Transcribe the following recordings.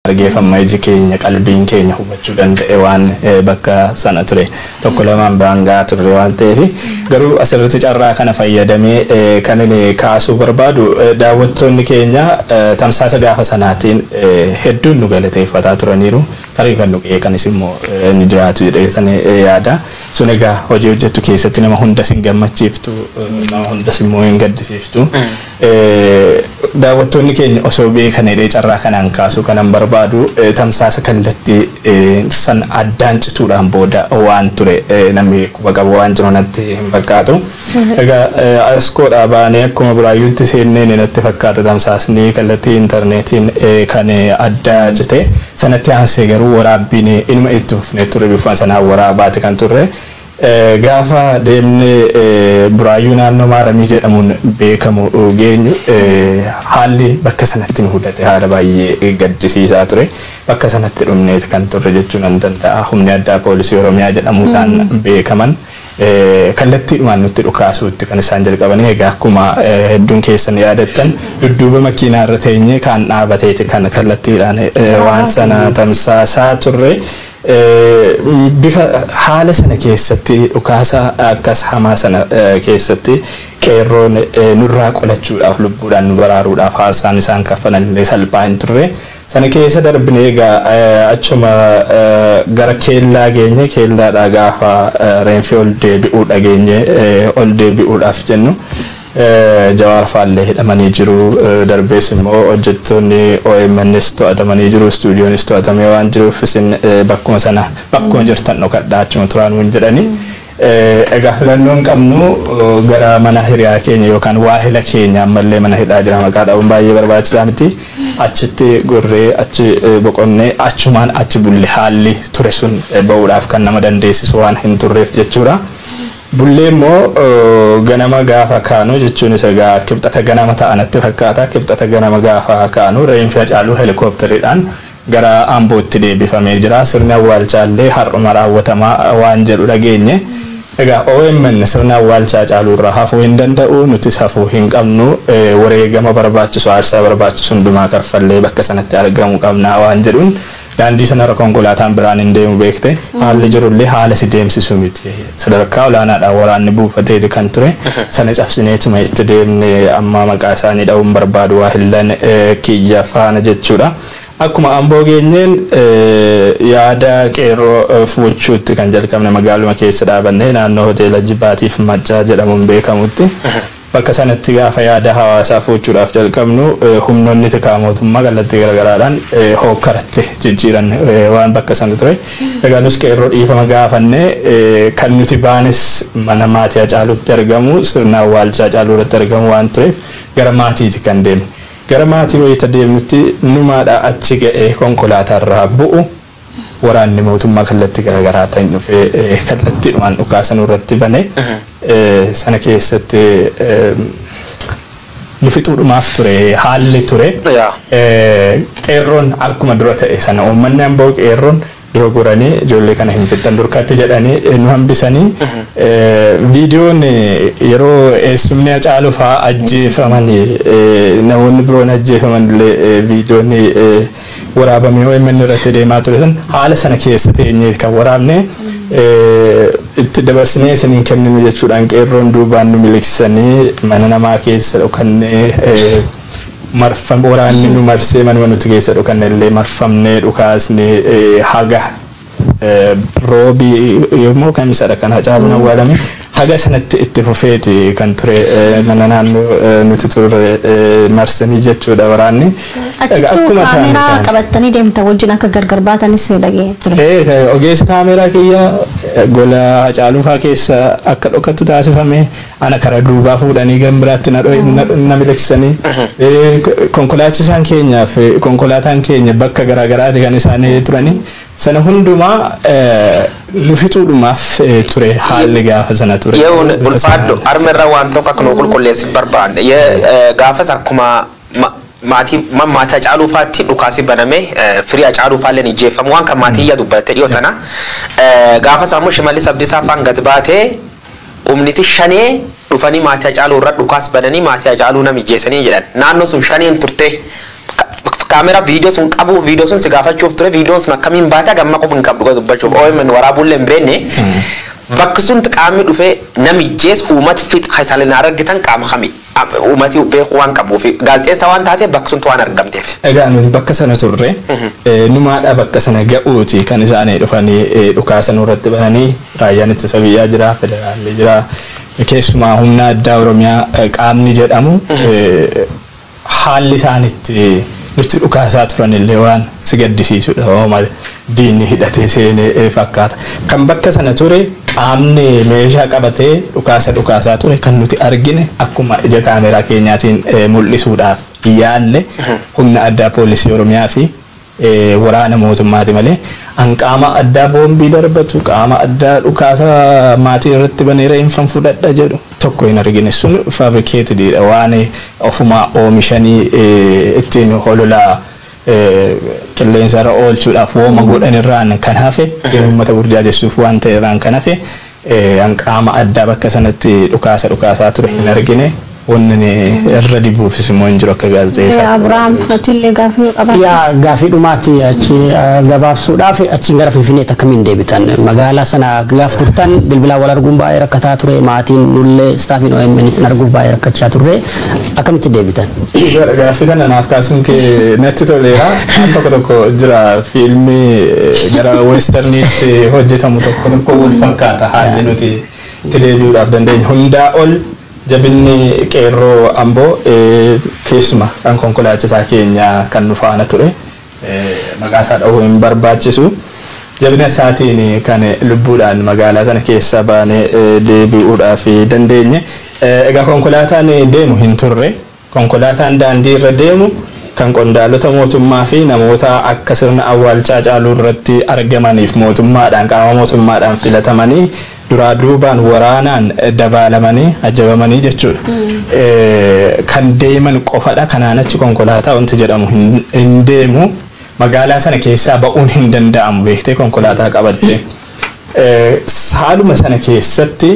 argeef amma iji keenya qalbiin keenya hubachuu danda'e waan bakka sana ture tokko lamaan biraan ga'aa turre waan ta'eef garuu asirratti carraa kana fayyadamee kan inni kaasuu barbaadu daawwattoonni keenya tamsaasa gaafa sanaatiin hedduun nu galateeffataa turaniiru tarii kan nu qeeqanis immoo ni jiraatu jedheessan yaada sun egaa hojii hojjettu keessatti nama hundas hin gammachiiftu nama hundas immoo hin gaddisiiftu. Daawwattoonni keenya osoo beekan jedhee carraa kanaan kaasuu kanan barbaadu tamsaasa kallatti san addaan cituudhaan booda waan ture namni quba qabu waan jiru natti hin fakkaatu. Egaa Askoodhaa baanee akkuma Buraayyuutti seenneen natti fakkaata tamsaasni kallattii interneetiin kan adda cite. Sanatti aansee garuu waraabbiin inuma itti fufnee turre bifuma sanaan waraabaati kan turre. Gaafa deemnee Buraayyuu naannoo Maaramii jedhamuun beekamu geenyu haalli bakka sanatti nu mudate haala baay'ee gaddisiisaa ture. Bakka sanatti dhumneeti kan turre jechuu nan danda'a. Humni addaa poolisii Oromiyaa jedhamuudhaan beekaman kallattiidhumaan nutti dhukaasuutti kan isaan jalqabanii egaa akkuma hedduun keessan yaadattan dudduuba makiinaa irra teenyee kaan dhaabateeti kan kallattiidhaan waan sana tamsaasaa turre. Bifa haala sana keessatti dhukaasa akkas hamaa sana keessatti qeerroon nurraa qolachuudhaaf lubbuudhaan nu baraaruudhaaf aarsaan isaan kaffalan illee salphaa hin turre. Sana keessa darbinee egaa achuma gara keellaa geenye keellaadhaa gaafa reenfi ol deebi'uu dhageenye ol deebi'uudhaaf jennu Jawaar faallee hidhamanii jiru. Darbees immoo hojjettoonni OMNs to'atamanii jiru. Istuudiyoonis to'atamee waan jiruuf isin bakkuma sana bakkuma jirtan dhokadhaa achuma turaa nuun jedhani. Egaa filannoo hin qabnu gara mana hiriyaa keenya yookaan waahila keenya ammallee mana hidhaa jira maqaa dhabuun baay'ee barbaachisaa miti. Achitti gorree achi boqonne achumaan achi bulle haalli ture sun ba'uudhaaf kan nama dandeessisu waan hin turreef jechuudha. Bullee immoo ganama gaafa kaanu jechuunis egaa Kibxata ganama ta'a natti fakkaata. Kibxata ganama gaafa kaanu reenfi Hacaaluu Helikooptariidhaan gara Ambootti deebifamee jira. Sirni awwaalchaa illee har'uma raawwatama waan jedhu dhageenye. Egaa omn sirni awwaalcha Hacaaluurraa hafuu hin danda'u, nutis hafuu hin qabnu. Wareegama barbaachisu, aarsaa barbaachisu hundumaa kaffallee bakka sanatti argamuu qabna waan jedhuun Daandii sanarra konkolaataan biraan hin deemu beekte. Haalli jirullee haala si deemsisu miti. Sadarkaa olaanaadhaan waraanni buufateeti kan ture. Sana cabsineetuma itti deemne. Amma maqaa isaanii dha'uu hin barbaadu waahillan kiyya faana jechuudha. Akkuma Amboo geenyeen yaada qeerroo fuuchuutti kan jalqabne magaaluma keessa dhaabannee naannoo hoteela Jibaatiif Maccaa jedhamuun beekamutti. Bakka sanatti gaafa yaada hawaasaa foochuudhaaf jalqabnu humnoonni tikaa mootummaa kallattii garagaraadhaan hookkaratti jijjiiran waan bakka sana ture. Egaa nus qeerroo dhiifama gaafanne. Kan nuti baanes mana maatii Hacaaluutti argamu sirna awwaalchaa Hacaaluu irratti argamu waan tureef gara maatiiti kan deemne. Gara maatii wayita deemnutti numaadha achi ga'ee konkolaataarraa bu'u. Waraanni mootummaa kallattii garaagaraatiin dhufee kallattiidhumaan dhukaasa nurratti bane. Sana keessatti nu fixuudhumaaf ture haalli ture. Qeerroon akkuma dura ta'e sana uummanni amboo qeerroon dura goranii ijoollee kana hin fixxan durkatti jedhanii nu hambisanii viidiyoon yeroo eessumni Hacaaluu fa'aa ajjeefaman namoonni biroon ajjeefaman illee viidiyoon waraabame omn irratti deemaa ture san haala sana keessa teenyee kan waraabne itti dabarsinee isin hin kenninu jechuudhaan qeerroon duubaan nu miliqsanii mana namaa keessa dhokannee marfam waraanni nu marsee manuma nuti keessa dhokanne illee marfamnee dhukaasni haga Roobi yommuu kamisadha kan Hacaaluun awwaalame. Haga sanatti itti fufeeti kan ture mana naannoo nuti turre marsanii jechuudha waraanni. Achittuu kaameeraa qabattanii deemtan wajjin akka gargar baatanis dhaga'ee ture. Ogeessi kaameeraa kiyya gola Hacaaluufaa keessa akka dhokattu taasifame. Ana karaa duubaa fuudhanii gara biraatti na miliqsanii. Konkolaachisaan keenyaaf konkolaataan keenya bakka garaagaraati kan isaan turanii. Sana hundumaa nu fixuudhumaaf ture haalli gaafa sana ture. Yehuun Bifa ulfaadhu sanaan. harma irra waan tokko akka nu qulqulleessu hin barbaanne. Ye- eh, Gaafas akkuma ma- maatii ma- maatii Hacaaluu faatti dhukaasi baname eh, firii Hacaaluu faalleen ijjeeffamu waan kan maatii iyya dubbatte dhiyoo sana. Eh, Gaafas ammoo Shimallis Abdiisaa faan gad baatee Humniti Shanee dhufanii maatii Hacaaluu irra dhukaas bananii maatii Hacaaluu nam ijjeesanii jedhan. Naannoo sun Shaneen turtee. Camera video sun qabuu video sun si gaafachuuf ture video sun akkamiin baate haga amma quba hin qabdu dhuga dubbachuuf omn waraabuu illee hin beenne. Bakki sun qaamni dhufee nam ijjees uumat fix keessaa illee na argitan qaama kami. Uumati beekuu waan qabuufi. Gaazexeessaa waan taateef bakka suntti waan argamteef. Egaa nuti bakka sana turre. Numaadha bakka sana ga'uuti kan isaani dhufanii dhukaasa nurratti bananii. Raayyaan Ittisa Biyyaa jira, Federaalli jira. Keessumaa Humna Addaa Oromiyaa qaamni jedhamu haalli isaan itti nutti dhukaasaa turanillee waan si gaddisiisudha. Diinni hidhatee seene fakkaata. Kan bakka sana ture qaamni meeshaa qabatee dhukaasa dhukaasaa ture kan nuti argine akkuma ija kaameeraa keenyaatiin mul'isuudhaaf yaalle humna addaa poolisii Oromiyaa fi waraana mootummaati malee an qaama addaa boombii darbatu, qaama addaa dhukaasa maatii irratti banee reeffan fudhadha jedhu tokko hin argine. Sun fabricated dha. Waan ofumaa oomishanii ittiin holola qilleensa irra oolchuudhaaf wooma godhan irraan kan hafe uummata burjaajessuuf waan ta'e irraan kan hafe an qaama addaa bakka sanatti dhukaasa dhukaasaa ture hin argine wanni ni irra dibuufis immoo hin jiru akka gaazexeessaa. Abiraam atillee gaaffii yoo qabaate. Yaa gaaffii dhumaatti achi eh, gabaabsuudhaaf achiin gara Finfinneetti akkamiin deebitan? Magaalaa sana gaaf turtan bilbilaan wal arguun baay'ee rakkataa ture. Maatiin nullee istaafiin OMN sin arguuf baay'ee rakkachaa turre. akkamitti deebitan? Dhugaadha gaaffii kana naaf kaasuun kee natti toleera. Al tokko tokko jira fiilmii eh, gara westerniitti hojjetamu tokko tokko wal fakkaata haalli nuti itti deebi'uudhaaf dandeenyu. Hundaa ol jabinni qeerroo amboo eh, keessuma kan konkolaachisaa keenya kan nu faana ture. maqaa isaa dhahuu hin barbaachisu. Jabina isaatiin kan lubbuudhaan magaalaa sana keessaa baanee deebi'uudhaaf dandeenye. Egaa konkolaataan deemu hin turre. Konkolaataan daandii irra deemu kan qondaalota mootummaa fi namoota akka sirna awwaalchaa Hacaaluu irratti argamaniif mootummaadhaan qaama mootummaadhaan filatamanii duraa duubaan waraanaan dabaalamanii ajjabamanii jechuudha. Kan deeman qofadha kanaan achi konkolaataa wanti jedhamu hin deemu magaalaa sana keessaa ba'uun hin danda'amu beektee konkolaataa qabattee. Saaluma sana keessatti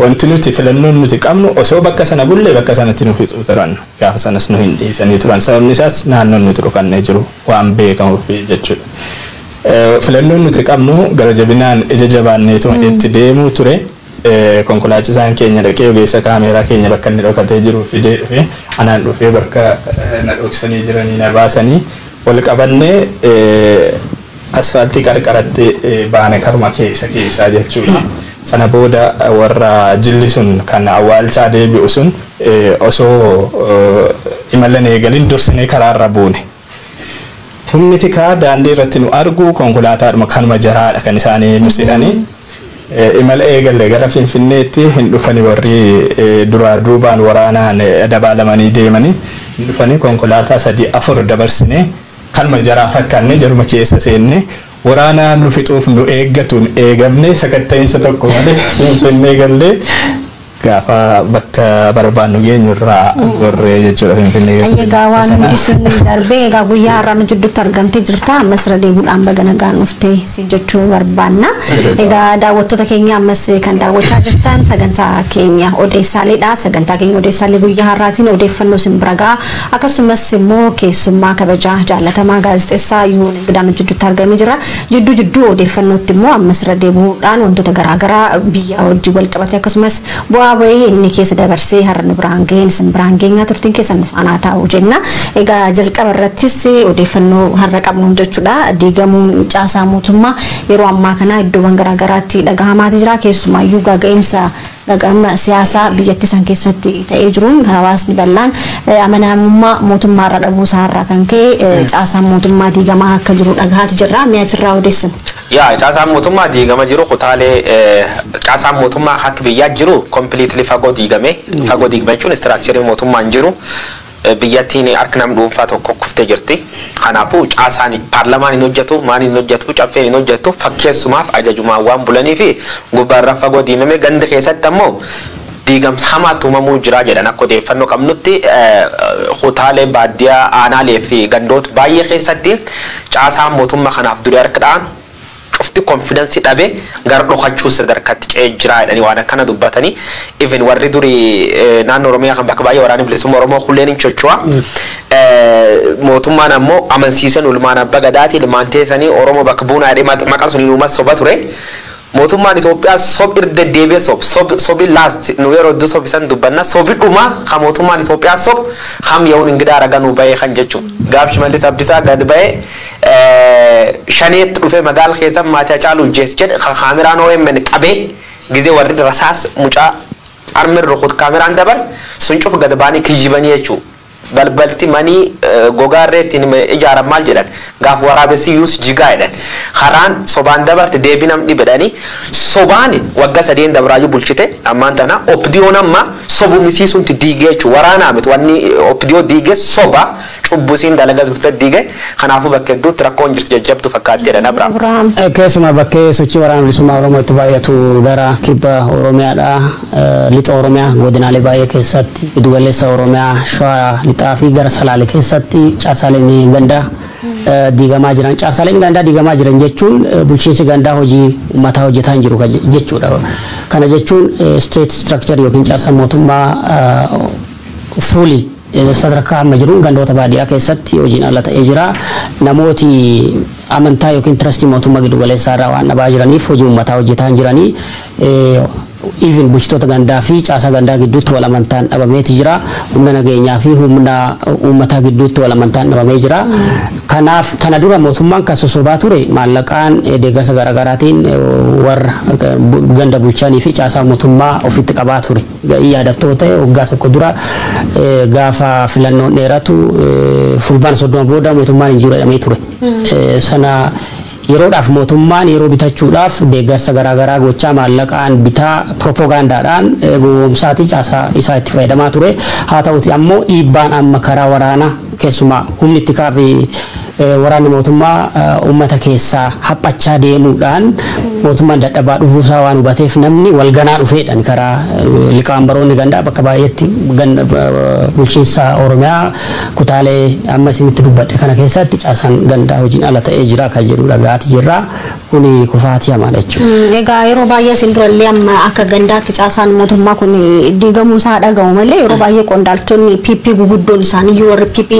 wanti nuti filannoon nuti qabnu osoo bakka sana bullee bakka sanatti nu fixuu turan gaafa sanas nu hin dhiisanii turan sababni isaas naannoon nuti dhokannee jiru waan beekamuuf jechuudha. Filannoon nuti qabnu gara jabinaan ija jabaanneetuma itti deemuu ture. Konkolaachisaan keenya dhaqee ogeessa kaameeraa keenya bakka inni dhokatee jiru fidee dhufe. Anaan dhufee bakka na dhoksanii jiranii na baasanii wal qabannee asfaaltii qarqaratti baane karuma keessa keessaa jechuudha. Sana booda warra jilli sun kan awwaalchaa deebi'u sun osoo imala hin eegalin dursinee karaarra buune. Humni tikaa daandii irratti nu argu konkolaataadhuma kanuma jaraadha kan isaan nu se'anii imala eegalle gara Finfinneetti hin dhufani warri duraa duubaan waraanaan dabaalamanii deemani hin dhufani konkolaataa sadii afur dabarsine kanuma jaraa fakkaanne jaruma keessa seenne waraana nu fixuuf nu eeggatuun eegamne sakatta'iinsa tokko malee Finfinnee galle. Gaafa bakka barbaannu geenyu irraa gorree jechuudha Finfinnee keessa. Ayyee egaa waan hundi sun darbee egaa guyyaa har'aa nu jidduutti argamtee jirta ammas irra deebiidhaan baga nagaan dhufte si jechuu barbaanna. Egaa daawwattoota keenya ammas kan daawwachaa jirtan sagantaa keenya odeessaaleedha. Sagantaa keenya odeessaalee guyyaa har'aatiin odeeffannoo isin bira ga'a. Akkasumas immoo keessummaa kabajaa jaallatamaa gaazexessaa Yuun Ingidaa nu jidduutti argamee jira. Jidduu jidduu odeeffannootti immoo ammas irra deebi'uudhaan wantoota garaa garaa biyyaa wajjin wal qabatee akkasumas bu'aa ba'ii inni keessa dabarsee har'a nu biraan ga'een isin biraan geenyaa turtiin keessan nu faanaa taa'u jenna. Egaa jalqaba irrattis odeeffannoo har'a qabnuun jechuudha diigamuun caasaa mootummaa yeroo ammaa kanaa iddoowwan garaa garaatti dhagahamaati jira keessumaayyuu gaaga'insa Dhaga'ama siyaasaa biyyattii san keessatti ta'ee jiruun hawaasni bal'aan amanamummaa mootummaarra dhabuusaarraa kan ka'e caasaan mootummaa diigamaa akka jiru dhagahaati jirra. Mee achirraa odeessinu. Yaa caasaan mootummaa diigama jiru kutaalee caasaan mootummaa akka biyyaa jiru completely fagoo diigame. Fagoo diigame jechuun istiraakchariin mootummaa hin jiru. Biyyattiin harka nam dhuunfaa tokkoo kuftee jirti. Kanaafuu caasaan paarlamaan hin hojjatu, maaliin hin hojjatu, caffeen hin hojjattu fakkeessumaaf ajajumaan waan bulaniif gubbaarra fagoo diimamee ganda keessatti ammoo diigamsa hamaatu uumamuu jira jedhan akka odeeffannoo qabnutti kutaalee baaddiyaa aanaalee fi gandoota baayyee keessatti caasaan mootumma kanaaf duri harka dha'an cufti confidence dhabe gara dhokachuu sadarkati ce'e jira jedhani waan akkana dubbatani even warri duri naanno oromiyaa kan bakka baay'ee waraani bilisumma oromoo kulleen hin chocho'a mootummaan ammo amansiise nu ilmaan abba gadaati ilmaan teesani oromo bakka buuna jedhe maqan sun inuuma soba ture mootummaan Itoophiyaa sob irra deddeebi'e sob sob sobi last nu yeroo hedduu sobisan dubbanna sobi dhuma kan mootummaan Itoophiyaa sob kam yehuun ingidaa raganuu ba'ee kan jechuun gaaf shimallis abdisaa gad ba'ee shanee dhufee magaal keessan maatii hacaaluu ijjeesse jedhe kan kaameraan omn qabee gizee warri rasaas mucaa armin rukut kaameraan dabars sun cuf gad baanii kijibanii jechuu balbalti manii gogaa irree ittiin ijaaran maal jedhan gaaf waraabessi yuus jigaa jedhan karaan sobaan dabarte deebii nam dhibedhanii sobaan wagga sadeen dabraayyuu bulchite ammaan tana opdiyoon amma sobumisiisuunti diigee jechuu waraanaa miti wanni opdiyoo diigee soba Cubbuu isiin dalagaa turte diige, kanaafuu bakka hedduutti rakkoon jirti jajjabduu fakkaatti jedhan Abraam. Keessumaa bakkee sochii Waraana Bilisummaa Oromoo itti baay'atu gara Kibba Oromiyaadha. Lixa Oromiyaa godinaalee baay'ee keessatti, Giddugaleessa Oromiyaa, Shawaa Lixaa fi gara Salaale keessatti caasaalen gandaa diigamaa jiran. Caasaalen gandaa diigamaa jiran jechuun bulchiinsi gandaa hojii ummataa hojjetaa hin jiru jechuudha. Kana jechuun state structure yookiin caasaan mootummaa fully Sadarkaa amma jiruun gandoota baadiyaa keessatti hojiin ala ta'ee jira. Namooti amantaa yookiin tirastii mootummaa giddu galeessaa irraa waan dhabaa jiraniif hojii uummataa hojjetaa hin jirani. Even bulchitoota gandaa fi caasaa gandaa gidduutti wal amantaan dhabameeti jira. Humna nageenyaa fi humna uummataa gidduutti wal amantaan dhabamee jira. Kanaaf kana dura mootummaan kan sosobaa ture maallaqaan deeggarsa garaagaraatiin warra ganda bulchanii fi caasaa mootummaa ofitti qabaa ture. Ga'ii yaadatoo ta'e waggaa tokko dura gaafa filannoon dheeratu Fulbaana 30 booda mootummaan hin jiru jedhamee ture. Sana yeroodhaaf mootummaan yeroo bitachuudhaaf deeggarsa garaagaraa gochaa maallaqaan bitaa piroopoogaandaadhaan gowwoomsaatii caasaa isaa itti fayyadamaa ture. Haa ta'uutii ammoo dhiibbaan amma karaa waraanaa keessumaa humni tikaa fi Waraanni mootummaa uummata keessaa haphachaa deemuudhaan mootummaan dadhabaa dhufuusaa waan hubateef namni wal ganaa dhufeedhaan karaa liqaambaroonni gandaa bakka baay'eetti bulchiinsa Oromiyaa kutaalee amma isinitti dubbadhe kana keessatti caasaan gandaa hojiin ala ta'ee jira kan jedhu dhaga'aati jirra. Kuni kufaatii hamaadha jechuudha. Egaa yeroo baay'ee isin durallee amma akka gandaatti caasaan mootummaa kun diigamuu isaa dhagahu malee yeroo baay'ee qondaaltonni PP guguddoon isaaniiyyuu warri PP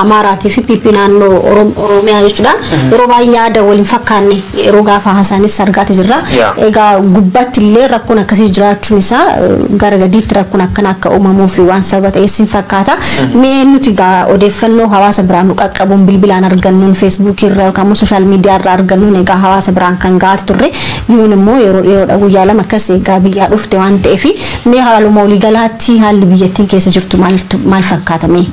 Amaaraatii fi PP naannoo Orom- Oromiyaa jechuudha. Yeroo baay'ee yaada wal hin fakkaanne yeroo gaafa haasaanis argaati jirra. Yaa. Egaa gubbaatti illee rakkoon akkasii jiraachuun isaa eh, gara gadiitti rakkoon akkana akka uumamuuf waan sababa ta'e isin fakkaata. Mee eenyutu egaa odeeffannoo hawaasa biraan nu qaqqabuun bilbilaan argannuun feesbuukii irraa yookaan immoo sooshaal miidiyaa irraa argannuun egaa hawaasa biraan kan ga'aati turre yoon immoo yeroo dhiyoodha guyyaa lama akkas egaa biyyaa dhufte waan ta'eef mee haaluma olii galaatti haalli biyyattiin keessa jirtu maaltu maal fakkaata mee?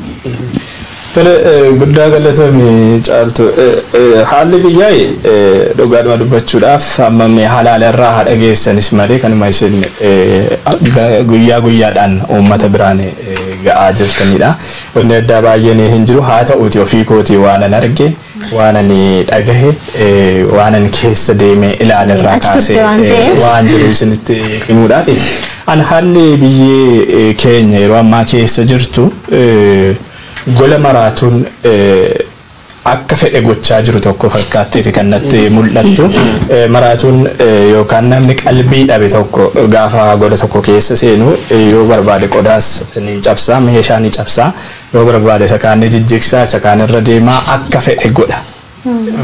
Tole eh, guddaa galatoomi caaltu. Eh, eh, Haalli biyyaa eh, dhugaadhuma dubbachuudhaaf amma mee halaala irraa haa dhageessanis malee kanuma isin eh, ga- guyyaa guyyaadhaan uummata biraan eh, ga'aa jirtanidha. Wanni addaa baay'een hin jiru. Haa ta'uuti ofii kootii waanan arge, waanan dhagahe, waanan keessa deemee ilaale irraa Achi turte kaasee waan ta'eef. waan jiru isinitti himuudhaaf. An haalli biyyee keenya yeroo ammaa keessa jirtu gola maraatuun akka fedhe gochaa jiru tokko fakkaatteeti kan natti mul'attu. Maraatuun yookaan namni qalbii dhabe tokko gaafa goda tokko keessa seenu yoo barbaade qodaas ni cabsa, meeshaa ni cabsa, yoo barbaade isa kaan ni jijjigsa, isa kaan irra deema, akka fedhe godha.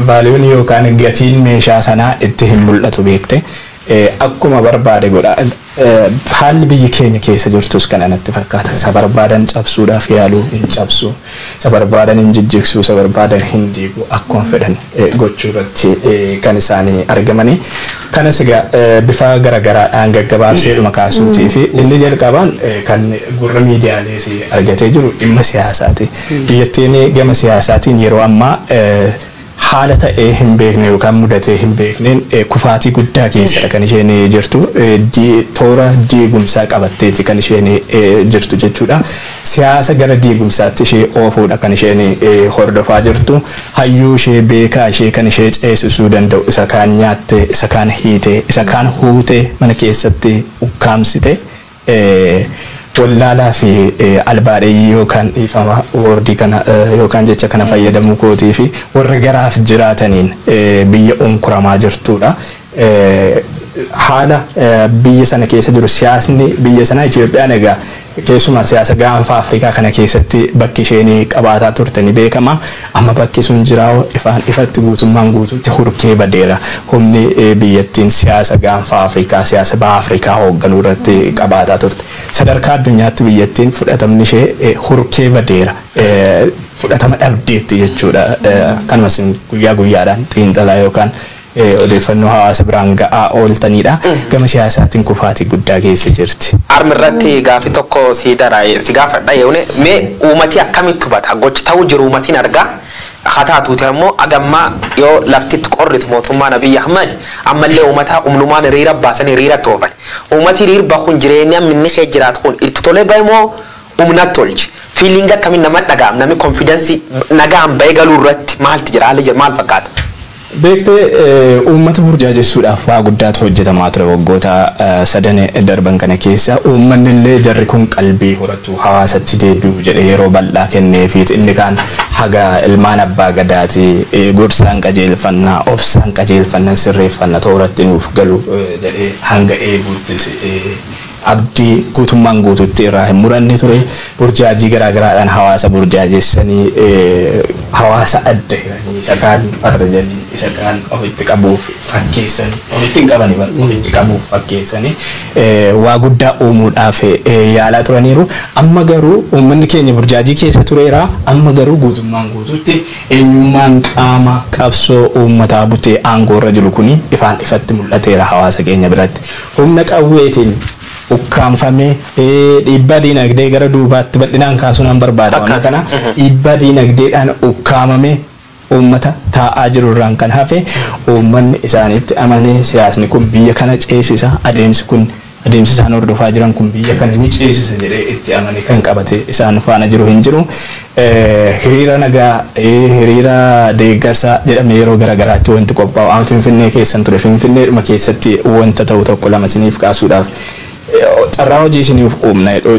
Vaaliyuun yookaan gatiin meeshaa sanaa itti hin mul'atu beekte. Akkuma barbaade godha. Haalli biyyi keenya keessa jirtus kana natti fakkaata. Isa barbaadan cabsuudhaaf yaalu, hin cabsu. Isa barbaadan hin jijjigsu, isa barbaadan hin diigu. Akkuma fedhan gochuu irratti kan isaanii argamanii. Kanas egaa bifa garagaraadhaan gaggabaabseedhuma kaasuutii fi inni jalqabaan kan gurra miidiyaalees argatee jiru dhimma siyaasaati. Biyyattiin gama siyaasaatiin yeroo ammaa Haala ta'ee hin beekne yookaan mudatee hin beekneen kufaatii guddaa keessadha kan isheen jirtu. Toora diigumsaa qabatteeti kan isheen jirtu jechuudha. Siyaasa gara diigumsaatti ishee oofuudha kan isheen hordofaa jirtu. Hayyuu ishee, beekaa ishee kan ishee ceesisuu danda'u isa kaan nyaattee, isa kaan hiitee, isa kaan huutee mana keessatti ukkaamsite. wallaalaa fi albaadheyyii yookaan dhiifama woordii kana yookaan jecha kana fayyadamuu kootii fi warra garaaf jiraataniin biyya unkuramaa jirtuudha. Haala biyya sana keessa jiru siyaasni biyya sanaa Itoophiyaan egaa keessumaa siyaasa gaanfa Afrikaa kana keessatti bakki isheen qabaataa turte ni beekama. Amma bakki sun jiraoo ifaan ifatti guutummaan guutuutti hurkee badeera. Humni biyyattiin siyaasa Gaanfa Afrikaa, siyaasa Baha Afrikaa hoogganuu irratti qabaataa turte. Sadarkaa addunyaatti biyyattiin fudhatamni ishee hurkee badeera. Fudhatama dhabdeetti jechuudha. Akkanuma isin guyyaa guyyaadhaan xiinxalaa yookaan Odeeffannoo hawaasa biraan ga'aa ooltaniidha. Gama siyaasaatiin kufaatii guddaa keessa jirti. Arm irratti gaafi tokko si dara si gaafadha yone mee uumati akkamitti hubata gochi ta'uu jiru uumatiin argaa ha taatuuti ammo aga ammaa yoo laftitti qorritu mootummaan Abiy Ahmed ammallee uumata humnumaan hiriira baasani hiriiratti oofani uumati hiriir bahun jireenya amma inni kee jiraatu kun itti tolee bahe moo humnat tolche feeling akkamin namat dhaga'am nami confidence nagaan bahe galuu irratti maalti jira haalli jira maal fakkaata? Beektee, uummata burjaajessuudhaaf waa guddaatu hojjetamaa ture waggoota sadan darban kana keessa. Uummannillee jarri kun qalbii horatu, hawaasatti deebi'u jedhee yeroo bal'aa kenneefiiti. Inni kaan haga ilmaan Abbaa Gadaati, gorsaan qajeelfanna, obsaan qajeelfannan sirreeffanna, tooratti nuuf galu jedhee hanga eeguutti. abdii guutummaan guutuutti irraa hin muranne ture. Burjaajii garaagaraadhaan hawaasa burjaajessanii hawaasa adda hiranii isa kaan farrajanii isa kaan ofitti qabuuf fakkeessanii ofitti hin qabani bar ofitti qabuuf fakkeessanii waa guddaa uumuudhaaf yaalaa turaniiru. Amma garuu uummanni keenya burjaajii keessa tureera. Amma garuu guutummaan guutuutti eenyummaan qaama qabsoo uummataa butee aangoo irra jiru kuni ifaan ifatti mul'ateera hawaasa keenya biratti. Humna qawweetiin ukkaamfamee dhiibbaa diinagdee gara duubaatti bal'inaan kaasuu nan barbaada. Akka. Wanta kana dhiibbaa diinagdeedhaan ukkaamamee uummata taa'aa jiru irraan kan hafe uummanni isaaniitti amanee siyaasni kun biyya kana ceesisa, adeemsi kun adeemsi isaan hordofaa jiran kun biyya kana ni ceesisa jedhee itti amanee kan qabatee isaan faana jiru hin jiru. Hiriira nagaa, hiriira deeggarsaa jedhamee yeroo gara garaatti wanti qophaa'u an Finfinnee keessan ture. Finfinneedhuma keessatti wanta ta'u tokko lama isiniif kaasuudhaaf carraa hojii isiniif uumna jedhu.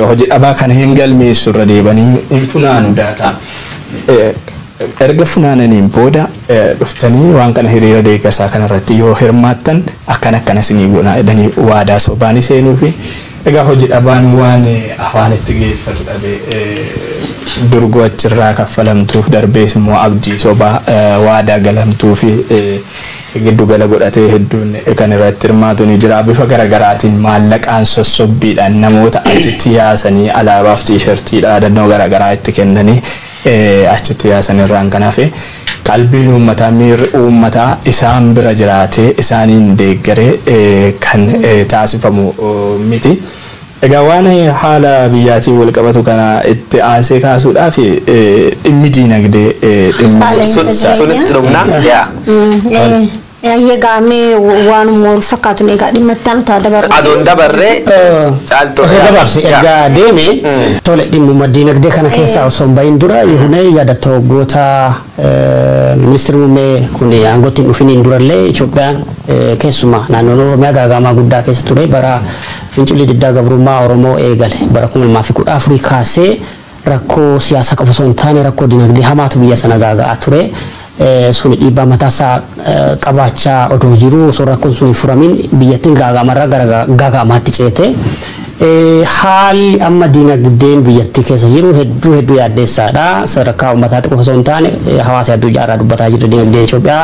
Hojii dhabaa kana hin galmeessu irra deebanii hin funaanu daataa. Erga funaananiin booda dhuftanii waan kana hiriira deeggarsaa kanarratti yoo hirmaattan akkana akkana isinii goonaa jedhanii waadaa sobaa ni seenuufi. Egaa hoji dhabaan waan afaanitti geeffatu dhabe. Durgoo achirraa kaffalamtuuf darbees immoo abdii sobaa waadaa galamtuufi giddu gala godhatee hedduun kan irratti hirmaatu ni jira. Bifa gara garaatiin maallaqaan sossobbiidhaan namoota achitti yaasanii alaabaaf tiishartii dhaadannoo gara garaa itti kennanii Achitti yaasan irraan kan hafe qalbiin uummataa, miirri uummataa isaan bira jiraatee isaaniin deeggaree kan taasifamu miti. Egaa waan haala biyyaatiin walqabatu kana itti aansee kaasuudhaaf dhimmi diinagdee dhimmi. Qaala'insa Sun sun jireenyaa. itti dhumna. Yaa. Tole. Ayyee gaamee waanuma wal fakkaatu egaa dhimma itti aanu ta'a dabarru. Adoon dabarree caaltoo. Osoo dabarse erga deeme tole dhimmuma diinagdee kana keessaa osoo hin bahin dura yihunee yaadatta waggoota ministeerri muummee kun aangootti hin dhufiniin durallee Itoophiyaan keessumaa naannoon Oromiyaa gaagaamaa guddaa keessa ture bara fincilli diddaa gabrummaa Oromoo eegale bara kuma lamaa fi kudha afurii kaasee Rakkoo siyaasaa qofa osoo hin taane rakkoo dinagdee hamaatu biyya sana gaaga'aa ture. Suni dhiibbaa mataasaa qabaachaa odoo jiruu osoo rakkoon sun hin furamiin biyyattiin gaaga'amarraa gara gaaga'amaatti ceete. Haalli amma dinagdeen biyyattii keessa jiru hedduu hedduu yaaddeessaadha. Sadarkaa uummataatti qofa osoo hin taane hawaasa addunyaarraa dubbataa jirra dinagdee Itoophiyaa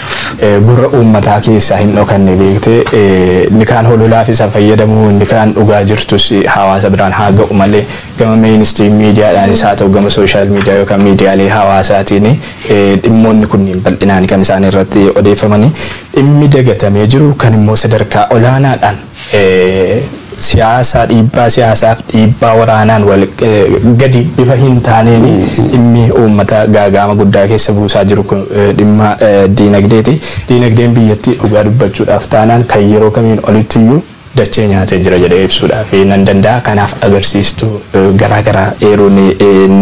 gurra uummataa keessaa hin dhokanne beekte inni kaan hololaaf isa fayyadamu inni kaan dhugaa jirtus hawaasa biraan haa ga'u malee gama meenistiriim miidiyaadhaanis haa ta'u gama sooshaal miidiyaa yookaan miidiyaalee hawaasaatiin dhimmoonni kunniin bal'inaan kan isaan irratti odeeffamanii dhimmi dagatamee jiru kan immoo sadarkaa olaanaadhaan siyaasa dhiibbaa siyaasaaf dhiibbaa waraanaan wal gadi bifa hin taaneen dhimmi uummata gaagaama guddaa keessa buusaa jiru kun dhimma diinagdeeti. Diinagdeen biyyattii dhugaa dubbachuudhaaf taanaan kan yeroo kamiin olitti iyyuu dachee nyaatee jira jedhee ibsuudhaaf nan danda'a. Kanaaf agarsiistuu garaa garaa eeruun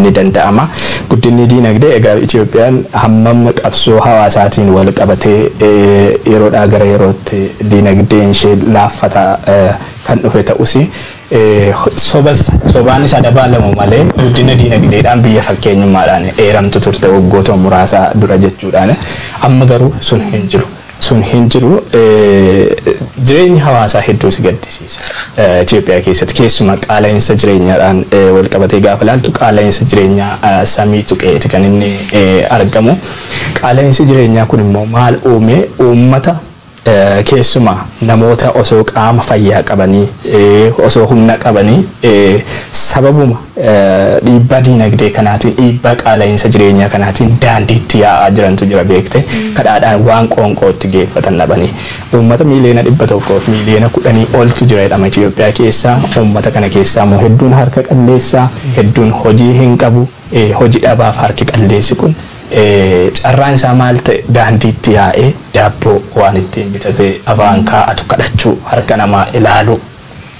ni danda'ama. Guddinni diinagdee egaa Itoophiyaan hammam qabsoo hawaasaatiin wal qabatee yeroodhaa gara yerootti diinagdeen ishee laaffataa kan dhufe ta'us, sobas sobaanis adabaalamu malee guddina diinagdeedhaan biyya fakkeenyummaadhaan eeramtu turte waggootuma muraasa dura jechuudhaan. Amma garuu sun hin jiru. Sun hin jiru. Jireenyi hawaasaa hedduu si gaddisiisa. Itoophiyaa keessatti keessumaa qaala'insa jireenyaadhaan walqabatee gaafa ilaaltu qaala'insa jireenyaa samii tuqeeti kan inni argamu. Qaala'insi jireenyaa kun immoo maal uume? Uummata keessumaa namoota osoo qaama fayyaa qabanii, osoo humna qabanii sababuma dhiibbaa diinagdee kanaatiin, dhiibbaa qaala'insa jireenyaa kanaatiin daandiitti yaa'aa jirantu jira beekte. Kadhaadhaan waan qoonqootti geeffatan dhabanii. Uummata miiliyoona 100 fi miiliyoona 10 oltu jira jedhama Itoophiyaa keessa. Uummata kana keessaa immoo hedduun harka qalleessa, hedduun hojii hin qabu. Hoji dhabaaf harki qalleessi kun carraan isaa maal ta'e daandiitti yaa'ee daabboo waan ittiin bitatee afaan kaa'atu kadhachuu, harka namaa ilaaluu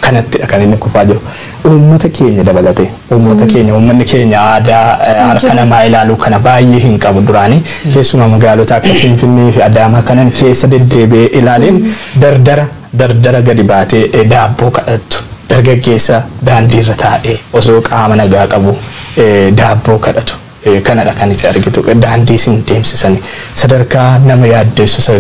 kanattidha kan inni kufaa jiru. Uummata keenya dabalatee uummata keenya uummanni keenya aadaa harka namaa ilaaluu kana baay'ee hin qabu duraanii keessumaa magaalota akka Finfinneefi Adaamaa kanan keessa deddeebi'ee ilaaleen dardara Dardara gadi baatee daabboo kadhattu. Dargaggeessa daandiirra taa'ee osoo qaama nagaa qabuu daabboo kadhatu. Kanadha kan iti argitu. Daandii isin deemsisani. Sadarkaa nama yaaddeessu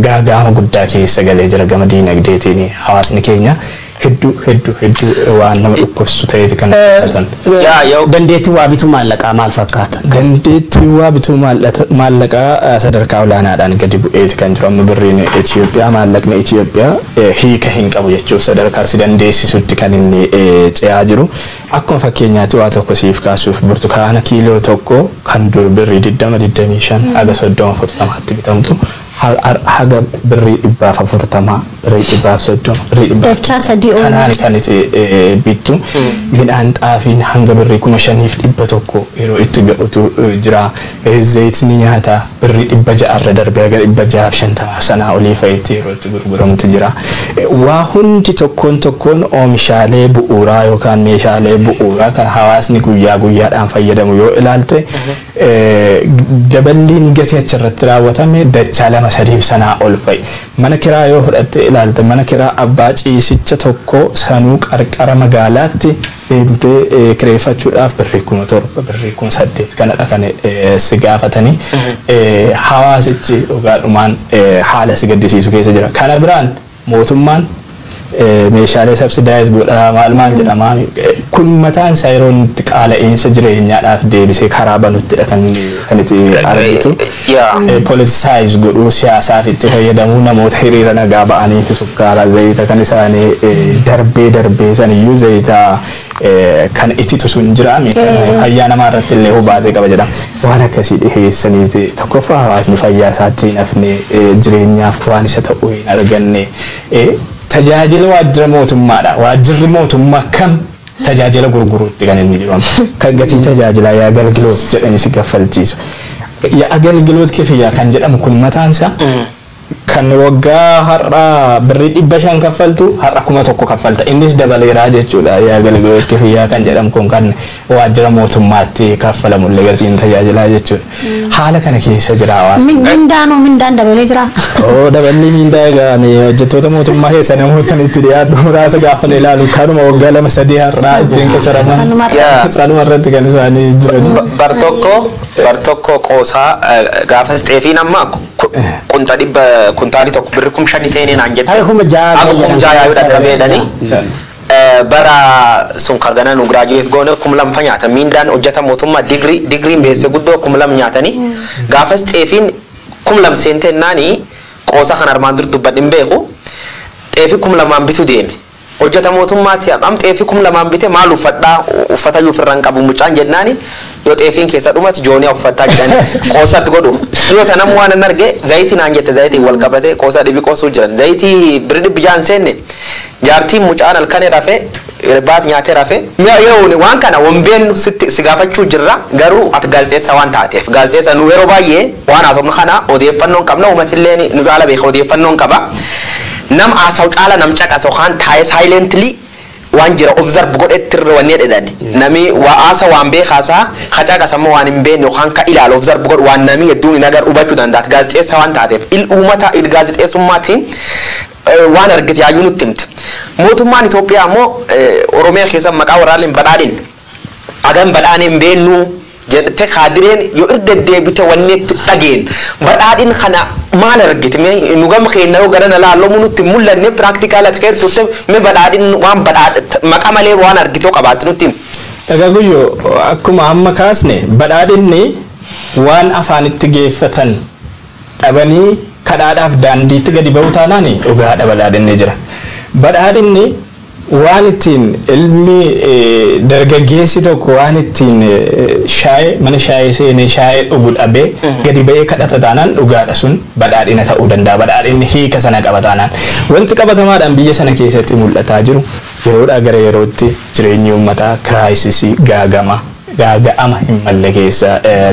gaaga'ama guddaa keessa galee jira gama diinagdeetiin hawaasni keenya. Hedduu hedduu hedduu waan nama dhukkubsu ta'eeti kan mul'atan. Yaa yoo Dandeettiin waa bituu maallaqaa maal fakkaata? Dandeettiin waa bituu maallata- maallaqaa eh, sadarkaa olaanaadhaan gadi bu'eeti kan jiru. Amma birriin Itoophiyaa maallaqni Itoophiyaa eh, hiika hin qabu jechuuf sadarkaa si dandeessisutti kan inni eh, ce'aa jiru. Akkuma fakkeenyaatti waa tokko siif kaasuuf burtukaana kiiloo tokko kan dur birrii 20, 25 haga 30, 40tti bitamtu Har ar haga birrii dhibbaaf afurtama, birrii dhibbaaf soddoma, birrii dhibbaaf Dachaa sadii ol. kanaani kan iti bittu. Midhaan xaafiin hanga birrii kuma shaniif dhibba tokko yeroo itti ga'utu jira. Zayitni nyaataa birrii dhibba ja'a irra darbee haga dhibba ja'aaf shantamaaf sanaa olii fa'itti yeroo itti gurguramutu jira. Waa hundi tokkoon tokkoon oomishaalee bu'uuraa yookaan meeshaalee bu'uuraa kan hawaasni guyyaa guyyaadhaan fayyadamu yoo ilaalte Daballiin gatii achi irratti raawwatame dachaa lama sadiif sanaa ol fa'i. Mana kiraa yoo fudhattee ilaalte mana kiraa abbaa ciisicha tokkoo sanuu qarqara magaalaatti deemtee kireeffachuudhaaf birrii kuma torba, birrii kuma saddeet kanadha kan si gaafatanii. Hawaasichi dhugaadhumaan haala si gaddisiisu keessa jira. Kana biraan. mootummaan meeshaalee sabsidaayiz godhaa maal maal jedhamaa kun mataan isaa yeroo inni itti qaala'iinsa jireenyaadhaaf deebisee karaa banuttidha kan kan itti argitu Yaa. politisaayiz godhuu siyaasaaf itti fayyadamuu namoota hiriira nagaa ba'anii fi sukkaara zayita kan isaanii eh, darbee darbee saniyyuu zayita Kan ititu sun jira miidhama fayyaa namaa irratti illee hubaatee qaba jedhama. Waan akkasii dhiheessaniiti tokkoffaa hawaasni fayyaa isaatti hin hafne jireenyaaf waan isa ta'u hin arganne tajaajila waajjira mootummaadha. Waajjirri mootummaa kam tajaajila gurguruutti kan inni jiru kan gatii tajaajilaa yaa galgiloot jedhanii si gaffalchiisu. Yaa galgiloot kifiyyaa kan jedhamu kun mataan isaa Kan waggaa har'a birrii 500 kaffaltu har'a 1000 kaffalta. Innis dabaleera jechuudha. Yaagalgiloot kifiyyaa kan jedhamu kun kan waajjira mootummaatti kaffalamu illee gatiin tajaajilaa jechuudha. Haala kana keessa jira hawaasni. Mindaanoo mindaan dabalee jira. Oo daballi mindaa egaa ani hojjettoota mootummaa keessa namoota itti dhiyaadhu muraasa gaafa na ilaalu kanuma waggaa lama sadii har'aa ittiin qacaraman. Sanuma irra. Yaa. Sanuma irratti kan isaanii jiran. Ba- bar tokko bar tokko qoosaa eh, gaafas xeefiin amma Ku- Qunxa dhibba kuntaali tokko birri kum shani seenee naan jette. Ay, kuma ja'a Haga jedhan. kum ja'a yaa'uu dhaqqabee jedhanii. Eh, Bara sun kan ganaa nu giraajuweet goone kum lama fa nyaatan miindaan hojjeta mootummaa digrii digriin beesse guddoo kum lama nyaatanii gaafas xeefiin kum lama seentee naani qoosa kan armaan dur dubbadhin beeku xeefi kum lamaan bitu deeme. Hojjata mootummaa ti am xeefii kum lamaan bite maal uffadha uffatayyuu ufirra hin qabu mucaan jennaani yoo xeefiin keessa dhumate jooniya uffattaa jedhani qoosa itti godhu dhiyoo tana ammo waanan arge zayiti naan jette zayitiin wal qabate qoosa dhibi qoosuu jiran zayitii birri dhibbi ja'a hin seenne jaartiin mucaan halkani rafe irbaat nyaate rafe Yerooni waan kana wan beennu sitti si gaafachuu jirra garuu ati gaazexeessaa waan taateef gaazexeessa nu yeroo baay'ee waan haasofnu kana odeeffannoo hin qabna uumatilleen nu caala beeka odeeffannoo hin qaba. Nam haasaw caala nam caqas yookaan taa'ee silently waan jira observe godhetti irra wanni jedhedhani. Nami wa haasa waan beekhaasa, ka caqas ammoo waan hin beenne yookaan ka ilaalu observe godhu waan nami hedduun hin agarre hubachu danda'a. Ati gaazexeessaa waan taateef il uumata il gaazexeessummaatiin waan argite yaayyuu nutti himta. Mootummaan Itoophiyaa ammoo Oromiyaa keessa maqaa warraalleen badhaadhin hagam badhaane hin beennuu. jette kaadireen yoo irra deddeebite wanni itti dhageenye. Badhaadhin kana maal argite mee nu gama keenya yoo garana laallu homu nutti hin mul'anne practical ati keessa turte mee badhaadhin waan badhaadh maqa malee waan argite yoo qabaatte nutti himi. Egaa Guyyoo akkuma amma kaasne badhaadhinni waan afaanitti geeffatan dhabanii kadhaadhaaf daandiitti gadi ba'uu taanaani dhugaadha badhaadhinni jira. Badhaadhinni. Waan ittiin ilmi dargaggeessi tokko waan ittiin shaayee mana shaayee seenee shaayee dhugu dhabee gadi ba'ee kadhata taanaan dhugaadha sun badhaadhina ta'uu danda'a badhaadhinni hiika sana qaba taanaan wanti qabatamaadhaan biyya sana keessatti mul'ataa jiru yeroodhaa gara yerootti jireenyi uummataa kiraayisisii gaagama gaaga'ama hin malle keessa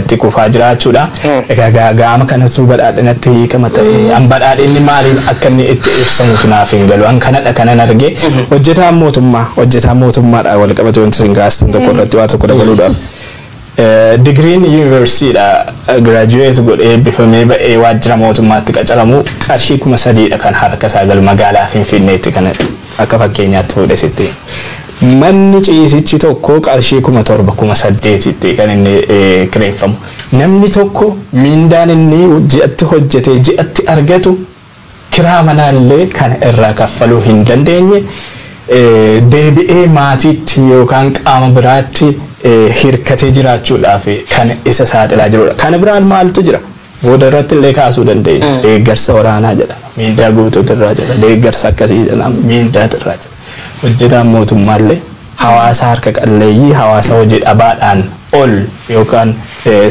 tti kufaa jiraachuu dha. Egaa gaaga'ama kana utuu badhaadhinatti hiikama ta'e an badhaadhinni maaliin akka inni itti ibsamutu naaf hin galu an kanadha kanan arge hojjetaan mootummaa hojjetaan mootummaadha wal qabate wanti isin kaastan tokko irratti waa tokko dabaluudhaaf. Digiriin yuunivarsiitiidha giraajuweet godhee eebbifamee ba'ee waajjira mootummaatti qacaramu qarshii kuma sadiidha kan harka isaa galu magaalaa Finfinneetti kan Akka fakkeenyaatti fuudhe sitti. Manni ciisichi tokko qarshii 7,000, 8,000 tti kan inni kireeffamu. Namni tokko miindaan inni ji'atti hojjetee ji'atti argatu kiraa manaa illee kana irraa kaffaluu hin dandeenye deebi'ee maatiitti yookaan qaama biraatti hirkatee jiraachuudhaaf kan isa saaxilaa jirudha. Kana biraan maaltu jira? Booda irratti illee kaasuu dandeenya. Deeggarsa waraanaa jedhama. Miindaa guutuutu irraa jira. Deeggarsa akkasii jedhama. Miindaatu irraa jira. Hojjetaan mootummaa illee hawaasa harka qalleeyyii, hawaasa hojii dhabaadhaan ol yookaan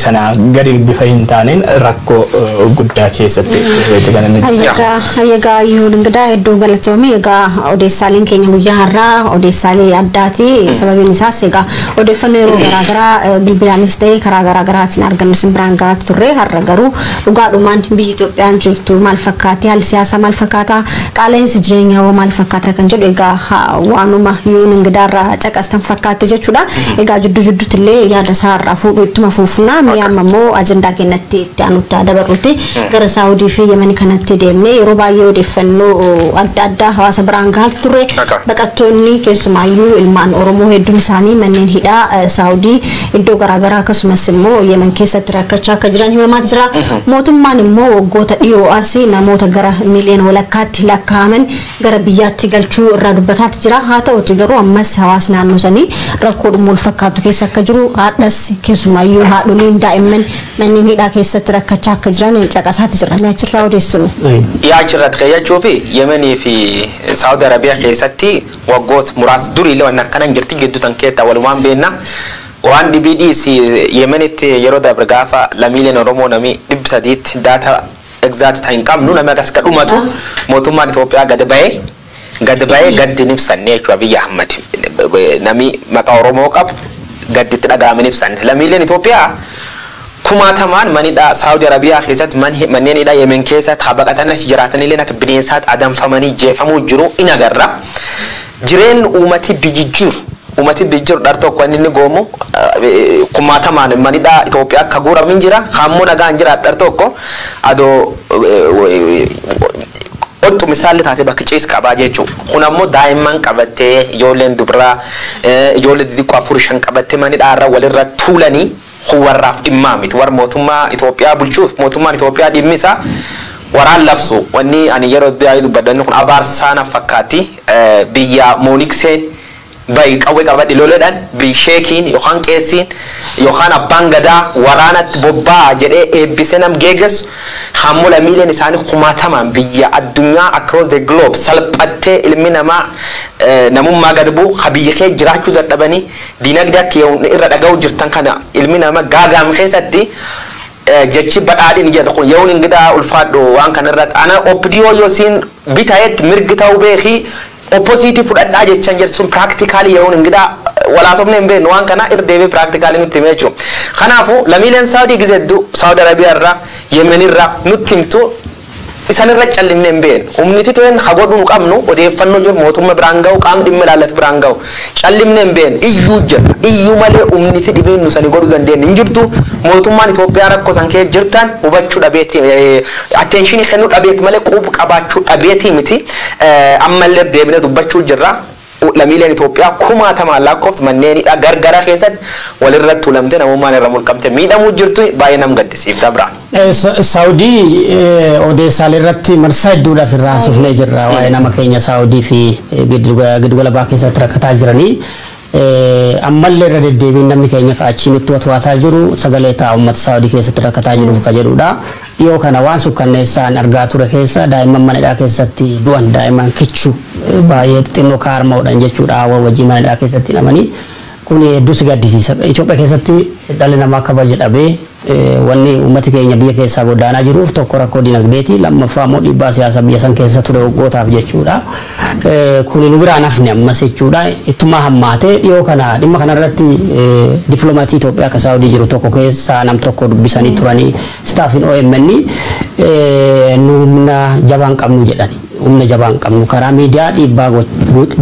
sanaa gadi bifa hin taaneen rakkoo guddaa keessatti dhufeeti kan inni jiru. Hayyagaa hayyagaa iyyuu dingidaa hedduu galatoomi egaa odeessaaleen keenya guyyaa har'aa odeessaalee addaati sababiin isaas egaa odeeffannoo yeroo garaagaraa eh, bilbilaanis ta'ee karaa garaagaraatiin argannu isin biraan gahaa turre har'a garuu dhugaadhumaan biyyi Itoophiyaan jirtu maal fakkaatti haalli siyaasaa maal fakkaata qaala'insi jireenyaa hoo maal fakkaata kan jedhu egaa ha- waanuma yoon ingidaarraa caqastan fakkaatti jechuudha egaa jiddu jidduutti illee yaada isaarraa fuudhu ittuma fuufnaa mee amma immoo ajandaa keenyatti itti aanutti haa dabarruuti Gara Saawudii fi Yemeni kanatti deemnee yeroo baay'ee odeeffannoo adda addaa hawaasa biraan gahaa turre. Baqattoonni keessumaayyuu ilmaan Oromoo hedduun isaanii manneen hidhaa Saawudii iddoo garaa garaa akkasumas immoo Yemen keessatti rakkachaa akka jiran himamaa jira. Mootummaan immoo waggoota dhiyoo as namoota gara miiliyoona walakkaatti lakkaa'aman gara biyyaatti galchuu irraa dubbataati jira. Haa ta'uuti garuu ammas hawaasni naannoo sanii rakkoodhuma wal fakkaatu keessa akka jiru hardhas keessumaayyuu haadholiin daa'imman manneen hidhaa keessatti rakkachaa akka jiran caqasaati jirra. Mee achirraa odeessu nu. Dhiyaa achirratti keeyyachuu fi Yemenii fi Saawud Arabiyaa keessatti waggoota muraasa duriillee waan akkana hin jirti gidduu tan keessaa walumaan beenna. Waan dhibii dhiisi Yemenitti yeroo dabre gaafa lamiileen Oromoo namii dhibbi sadiitti daata egzaati ta hin qabnu namni akkas akka dhumatu mootummaan Itoophiyaa gad bahee Gad bahee gaddi hin ibsanne jechuun Abiy Ahmad nami maqaa Oromoo qabu gaddi itti dhaga'ame hin ibsanne. Lammiileen Itoophiyaa kumaatamaan manidhaa Saawudi Arabiyaa keessatti manneen hidhaa Yemen keessa taa baqatanii achi jiraatanilleen akka bineensaatti adamfamanii jeefamuu jiru in agarra. Jireen uumati bijijjiiru. Uumati bijijjiiru dhar tokko wanni inni goomu kumaatamaan manidhaa Itoophiyaa akka guuramu hin jira. Kaammoo nagaan jiraadha dhar tokko adoo Ottu misaalli taate bakki ciis qabaa jeechu kun ammo daa'imman qabattee ijoolleen dubraa ijoollee didiqqoo afur shan qabattee mani dhaarra walirra tuulani kun warraaf dhimmaa miti war mootummaa itoophiyaa bulchuuf mootummaan itoophiyaa dhimmi isaa waraan labsu wanni ani yeroo dduaayii dubbadhu wanni kun abaarsaa naf fakkaatti biyyaa moonikseen Bahi qawwe qabadhi loledhan bhi sheekiin yookaan qeessiin yookaan abbaan gadaa waraanatti bobbaa'a jedhee eebbisee nam geegessu kaammoo lamiileen isaanii kumaatamaan biyya addunyaa across the globe salphattee ilmi namaa namummaa gad bu'u ka biyya kee jiraachuu dadhabanii diinagdee akka yoom irra dhaga'uu jirtan kana ilmi nama gaaga'am keessatti jechi badhaadhin jedhu kun yoon ingidaa ulfaadhu waan kana irratti ana opdo yoo siin bitayetti mirgi ta'uu beekii Opposite fudhadhaa jechan jedhe sun practically yeroon hin gidhaa wal haasofnee hin beeknu waan kana irra deebi'ee practically nutti hime jechuudha. Kanaafu lamiileen Saudi gize heddu Saudi Arabia irra Yemen irra nutti himtu isan irra callifne hin beeknu. Humniti teen ha godhu nu qabnu odeeffanno jiru mootumma biraan gahu qaamni dhimma ilaallatu biraan gahu. Callimne hin beenu. Iyyuu jirra. Iyyuu malee umni fi dhibiin nu sani godhu dandeennu hin jirtu. Mootummaan Itoophiyaa rakko san keessa jirtan hubachu dhabeeti, attention kennu dhabeeti malee qub qabaachu dhabeeti miti. Ammalle irra deebine dubbachu jirra. Lamiileen Itoophiyaa kumaatamaan laakkoftu manneen hidhaa gargara keessatti wal irra tulamte namummaan irra mulqamte miidhamu jirtu. Baay'ee nam gaddisiifta bra. Saawudii odeessaalee irratti marsaa hedduudhaaf irraa haasofnee jirra. Waa'ee nama keenya Saawudii fi giddugala baa keessatti rakkataa jiranii. Ammallee irra deddeebiin namni keenya achii nutti watwaataa jiru sagalee ta'a uummata Saawudii keessatti rakkataa jiruuf ka jedhudha. Dhiyoo kana waan sukkanneessaan argaa ture keessa daa'imman mana hidhaa keessatti du'an daa'imman kichuu baay'ee xixinnoo kaarmaadhaan jechuudha haawwan wajjin mana hidhaa keessatti hidhamanii. Kuni hedduu si gaddisiisa. Itoophiyaa keessatti dhalli namaa kabaja dhabee wanni uummati keenya biyya keessaa godaanaa jiruuf tokko rakkoo dinagdeeti, lammaffaa immoo dhiibbaa siyaasaa biyya san keessa ture waggootaaf jechuudha. Kuni nu biraa hin hafne ammas jechuudha. Ittuma hammaatee dhiyoo kana dhimma kanarratti dippilomaatii Itoophiyaa akka Saawudii jiru tokko keessaa nam tokko dubbisanii turanii staaffiin OMN nu humna jabaa hin qabnu jedhani. Humna jabaa hin qabnu. Karaa miidiyaa dhiibbaa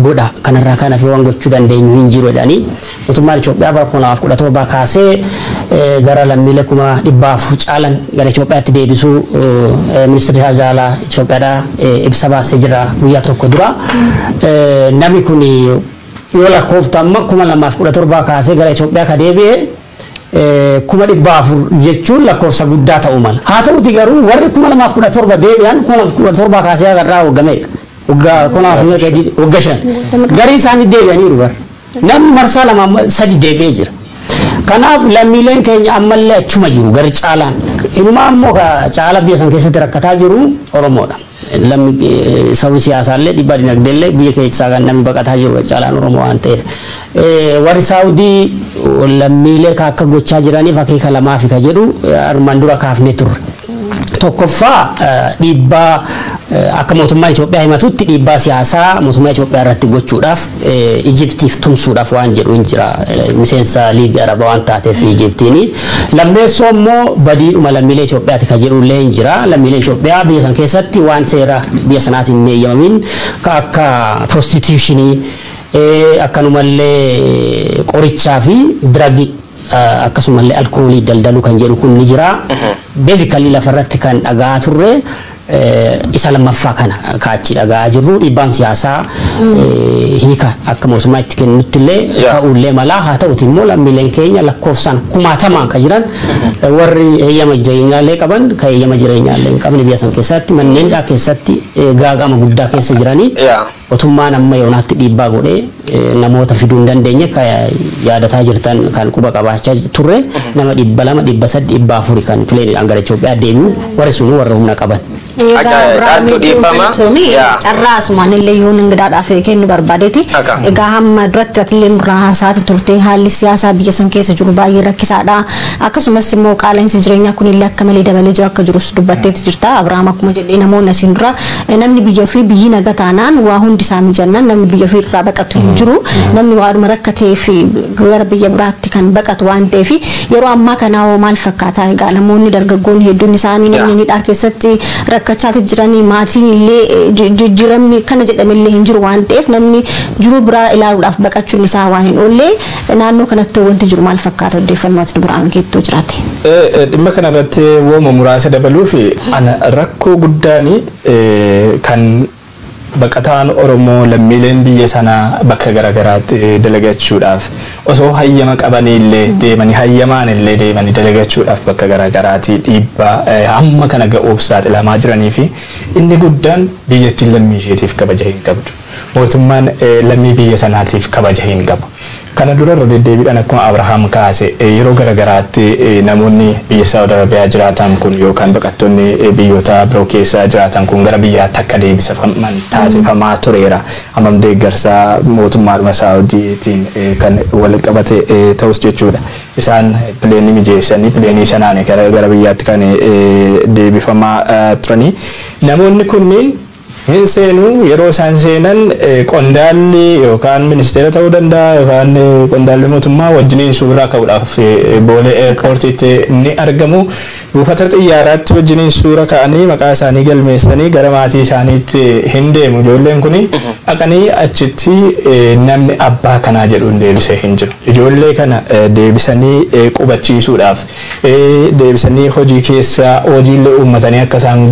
godha. Kanarraa kan hafe waan gochuu dandeenyu hin jiru jedhanii mootummaan Itoophiyaa bara 2017 kaasee gara lammiilee kuma 400 caalan gara Itoophiyaatti deebisuu ministeerri haajaa alaa Itoophiyaadhaa ibsa baasee jira guyyaa tokko dura. Namni kun yoo lakkooftu amma 2017 kaasee gara Itoophiyaa ka deebi'e kuma 400 jechuun lakkoofsa guddaa ta'uu mala. Haa ta'uti garuu warri 2017 deebi'an 2017 kaasee haga irraa wagga meeqa? Wagga konaa fi meeqa jedhi wagga shan. Gariin isaanii deebi'aniiru bara. Namni marsaa lama amma sadi deebi'ee jira. Kanaaf lammiileen keenya ammallee achuma jiru gari caalaan. Inumaa immoo ka caalaa biyya san keessatti rakkataa jiru Oromoodha. Lammi sabni siyaasaallee dhibbaa dinagdeellee biyya keessaa kan namni baqataa jiru irra caalaan Oromoo waan ta'eef. Warri Saawudii lammiilee ka akka gochaa jiraniif akeeka lamaafi ka jedhu armaan dura kaafnee turre. Tokkoffaa dhiibbaa akka mootummaa Itoophiyaa himatutti dhiibbaa siyaasaa mootummaa Itoophiyaa irratti gochuudhaaf Ijiptiif tumsuudhaaf waan jedhu hin jira. Miseensa Liigii Arabaa waan taateef Ijiptiin. Lammeessoo immoo badiidhuma lammiilee Itoophiyaati kan jedhu illee hin jira. Lammiileen Itoophiyaa biyya sana keessatti waan seera biyya sanaatiin hin eeyyamamiin kan akka prostituushinii, akkanuma illee qorichaa fi diragi akkasuma illee alkoolii daldaluu kan jedhu kun ni jira. Basically lafa irratti kan dhaga'aa turre. isa lammaffaa kana ka achi dhaga'aa jirru dhiibbaan siyaasaa hiika akka mootummaa itti kennutti illee Yeah. ta'uu illee malaa haa ta'uti immoo lammiileen keenya lakkoofsaan kumaatamaan ka jiran warri heeyyama jireenyaa illee qaban ka heeyyama jireenyaa illee hin qabne biyya san keessatti manneen dhaa keessatti eh, gaaga'ama guddaa keessa jiranii Yeah. Motummaan amma yoonaatti dhiibbaa godhe namoota fiduu hin dandeenye akka yaadataa jirtan kan quba qabaachaa turre nama 200, 300, 400 kan pileeniidhaan gara Itoophiyaa deebi'u warri sunuu warra humna qaban. Egaa Caaltuu dhiifama. Carraa asumaan illee yoon ingidaadhaaf kennu barbaadeeti. Egaa hamma duratti atillee nurraa haasaati turte haalli siyaasaa biyya san keessa jiru baay'ee rakkisaadha. Akkasumas immoo qaala'insi jireenyaa kun illee akka malee dabalee jira akka jirus dubbatteeti jirta. Abiraam akkuma jedhee namoonni asiin dura Namni biyya ofii biyyi naga taanaan waa hundi isaa mijannaan namni biyya ofii irraa baqatu hin jiru. Namni waadhuma rakkateef gara biyya biraatti kan baqatu waan ta'eef yeroo ammaa kanaa hoo maal fakkaataa egaa namoonni dargaggoonni hedduun isaanii namni hidhaa keessatti rakkachaati jiranii maatiin illee jijjiiramni kana jedhamillee hin jiru waan ta'eef namni jiruu biraa ilaaluudhaaf baqachuun isaa waan hin oollee Naannoo kanattoo wanti jiru maal fakkaata oddeeffannoo ati dubraan keetti yoo jiraate? Dhimma kana irratti wooma muraasa dabaluuf ana rakkoo guddaan kan baqataan Oromoo lammiileen biyya sanaa bakka garagaraatti dalagachuudhaaf osoo hayyama qabanii illee deemanii hayyamaan illee deemanii dalagachuudhaaf bakka garagaraatii dhiibbaa hamma kana ga'uuf saaxilamaa jiranii fi inni guddaan biyyattiin lammii isheetiif kabaja hin qabdu. Mootummaan lammii biyya sanaatiif kabaja hin qabu. Kana dura irra deddeebiidhaan akkuma Abrahaam kaase yeroo gara garaatti namoonni biyya Saawud Arabiyaa jiraatan kun yookaan baqattoonni biyyoota biroo keessa jiraatan kun gara biyyaatti akka deebisafaman taasifamaa tureera. Hammam deeggarsa mootummaadhuma Saawudiitiin kan wal qabate ta'us jechuudha. Isaan pileenii mijeessanii pileenii sanaani gara biyyaatti kan deebifamaa turanii. Namoonni kunniin hin seenu. Yeroo isaan seenan qondaalli yookaan ministeera ta'uu danda'a yookaan qondaalli mootummaa wajjiniin suuraa ka'uudhaaf Boolee Eerpoortiitti ni argamu. Buufata xiyyaaraatti wajjiniin suura ka'anii maqaa isaanii galmeessanii gara maatii isaaniitti hin deemu. Ijoolleen kuni dhaqanii achitti namni abbaa kanaa jedhu deebisee hin jiru. Ijoollee kana deebisanii qubachiisuudhaaf ee deebisanii hojii keessa hojiillee uummatanii akka isaan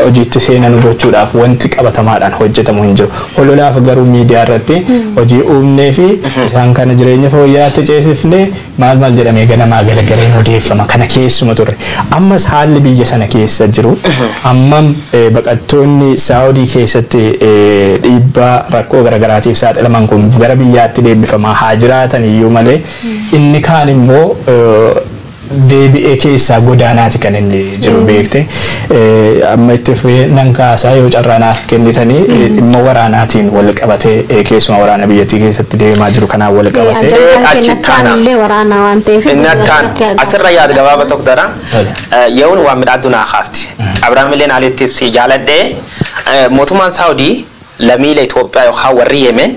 hojiitti seenanu gochuudhaaf wanti qabatamaadhaan hojjetamu hin jiru. Hololaaf garuu miidiyaa irratti hojii uumnee fi isaan kana jireenya fooyya'aatti ceesifnee maal maal jedhamee ganamaa galagaleen odeeffama kana keessuma turre. Ammas haalli biyya sana keessa jiru hammam baqattoonni Saawudii keessatti dhiibbaa rakkoo garagaraatiif saaxilaman kun gara biyyaatti deebifamaa haa jiraatan iyyuu malee Inni kaan immoo deebi'ee keessaa godaanaati kan inni jiru beekte. Amma itti fufee nan kaasaa yoo carraa naaf kennitanii dhimma waraanaatiin wal qabatee keessumaa waraana biyyattii keessatti deemaa jiru kanaan wal qabatee. Ajandaan achi kennatti taana. aanullee waraanaa waan ta'eef. Inni akkaan asirra yaad gabaaba tokko dara. Yehuun waan midhaatu naa kaafti. Abrahaam illee naalitti si jaaladhee mootummaan Saawudii Lamiile Itoophiyaa yookaan warri Yemen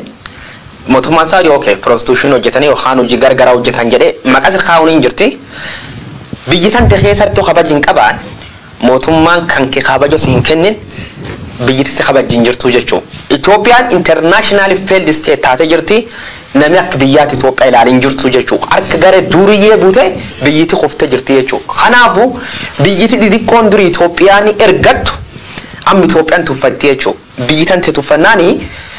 motummaan Saudi ok prostitution hojjetanii yookaan hojii gargaraa hojjetaan jedhee maqas kaa'uun hin jirti biyyi tante keessattu kabaj hin qabaan motummaan kanke kabajo si hin kennin biyyiti si kabajji hin jirtuu jechuu. Itoophiyaan internationally failed state taate jirti nami akka biyyaati Itoophiyaa ilaale hin jirtuu jechuu harka gare duuriyyee bute biyyiti kufte jirti jechuu kanaafu biyyiti didiqqoon duri Itoophiyaani ergattu Amma Ethiopian tuffattee jechu biyyi tante tuffannaan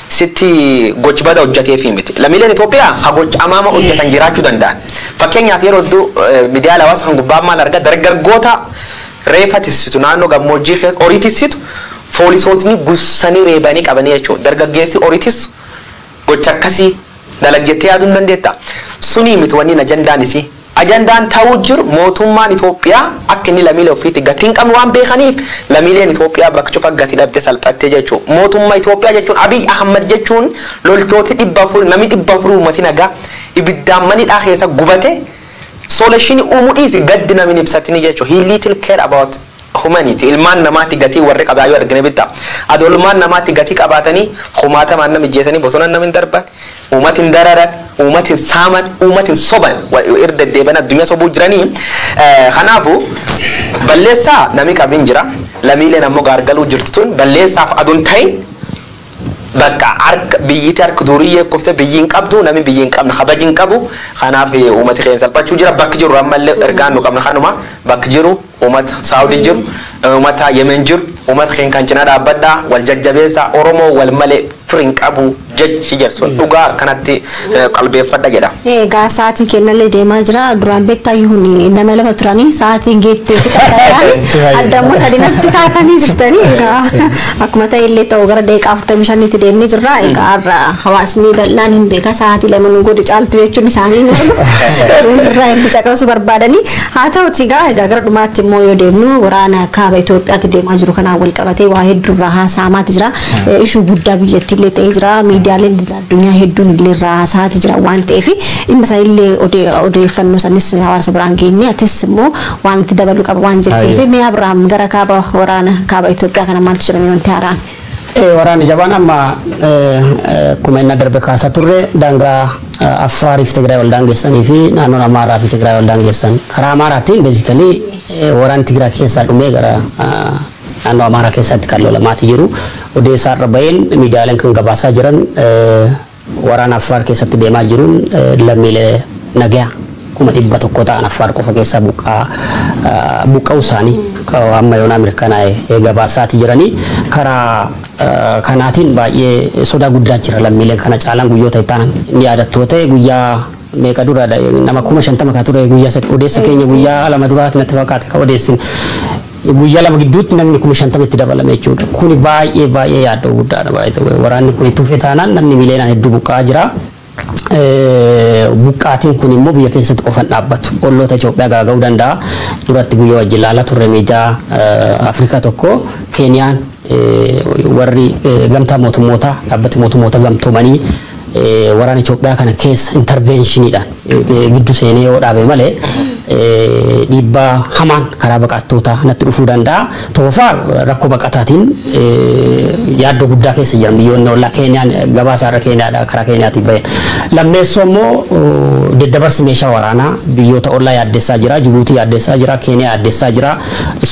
sitti goch bada hojjateefi miti. Lamiileen Ethiopia ha goch amaama hojjatan jiraachu danda'an. Fakkeenyaaf yeroo heddu midiyaale hawaasa kan gubbaa maal arga dargaggoota reefa tissitu naannoo gammoojjii keessa horii tissitu foolisootni gussanii reebanii qabanii jechu dargaggeessi horii tissu gocha akkasii dalag jettee yaaduu ni dandeettaa? Sunii miti wanniin ajandaan isii. Ajandaan ta'uu jiru mootummaan Itoophiyaa akka inni lamiilee ofiitti gatii hin qabne waan beekaniif lamiileen Itoophiyaa bakka cufa gati dhabde salphatte jechuu. Mootumma Itoophiyaa jechuun Abiy Ahmad jechuun loltooti 400 namni 400 uummati nagaa ibiddaan mana hidhaa keessa gubate solution uumuu dhiisi gaddi namni hin ibsatini jechuu. He little care about Humanity, ilmaan namaatti gatii warri qabaa yoo argine bitta. Adoo ilmaan namaatti gatii qabaatanii kumaatamaan nama ijjeesanii bosonan nama hin darban, uumata hin dararan, uumata hin saaman, uumata hin soban. Irra deddeebi'anii addunyaa sobuu jiranii. Kanaafu balleessaa nami qabu hin jira. Lamiileen ammoo gaargaluu jirtu tun balleessaaf adoo hin ta'in bakka harka biyyiti harka duuriyyee kufte biyyi hin qabdu nami biyyi hin qabne kabaji hin qabu. Kanaaf uumati keenya salphachuu jira. Bakki jiru ammallee ergaan nu qabna kanuma bakki jiru. Umata saudi jiru umata yemen jiru umata keen kan cina dhaabadha wal jajjabeessa oromoo wal male firi hin qabu jechi jedhu sun dhugaa akkanatti qalbeeffadha jedha. Egaa sa'aatiin kennallee deemaa jira. Duraan beektaa yuun lama lama turanii sa'aatiin geettee fi taasisaa adda immoo sadinatti taatanii jirtanii egaa akkuma ta'e illee ta'u gara daqiiqaa afurtamii shanitti deemnee jirra. Egaa har'a hawaasni bal'aan hin beeka sa'aatii lama nu godhe caaltu jechuun isaanii nu irraa hin bicaqasuu barbaadanii Haa ta'uutii egaa egaa gara dhumaatti immoo yoo deemnu waraana kaaba Itoophiyaatti deemaa jiru kanaan wal qabatee waa hedduu irraa haasa'amaati jira. Eh, Ishuu guddaa biyyattii illee ta'ee jira. Miidiyaaleen idil addunyaa hedduun illee irraa haasa'aati jira waan ta'eef dhimma isaa illee odee- odeeffannoo sanis hawaasa biraan geenye atis immoo waan itti dabaluu qaba waan jetteef Aye. mee Abiraam gara kaaba waraana kaaba Itoophiyaa kana maaltu jira mee wanti haaraan? Ee, waraanni jabaan amma ee, ee, akkuma inni darbe kaasaa turre daangaa ee, Affaariif Tigraay wal daangessanii fi naannoon Amaaraa fi Tigraay wal daangessan karaa Amaaraatiin beezikalii waraanni Tigraay keessaa dhumee gara ee, naannoo Amaaraa keessatti kan lolamaati jiru. Odeessaa irra baheen miidiyaaleen kan gabaasaa jiran ee, Waraana Affaar keessatti deemaa jiruun lammiilee nagayaa kuma 100 ta'an Affaar qofa keessaa buqqa'uu isaanii amma yoonaa mirkanaa'e gabaasaati jiranii. Karaa kanaatiin baay'ee sodaa guddaa jira lammiileen kana caalaan guyyoota itti aanan ni yaadattu yoo ta'e guyyaa meeqa dura da, nama kuma shantama ka ture guyyaa sadi odeessa keenya guyyaa lama duraati natti fakkaate ka odeessin guyyaa lama gidduutti namni kuma shantama itti dabalame jechuudha kuni baay'ee baay'ee yaaddoo guddaadha baay'ee waraanni kuni tufe taanaan namni miliyoonaan hedduu buqqa'aa jira buqqaatiin kun immoo biyya keessatti qofan dhaabbatu olloota Itoophiyaa gaaga'uu danda'a duratti guyyaa wajjin ilaalaa turre miidiyaa Afrikaa tokko Keeniyaan warri gamtaa mootummootaa dhaabbati mootummoota gamtoomanii waraana Itoophiyaa kana keessa intarveenshiniidhaan giddu seenee yoo dhaabe malee dhiibbaa hamaan karaa baqattootaa natti dhufuu danda'a. Tokkoffaa rakkoo baqataatiin yaaddoo guddaa keessa jiran biyyoonni ollaa Keeniyaan gabaasaa irra Keeniyaadha karaa Keeniyaatiin bahe. Lammeessoo immoo deddabarsi meeshaa waraanaa biyyoota ollaa yaaddessaa jira. Jibuutii yaaddessaa jira. Keeniyaa yaaddessaa jira.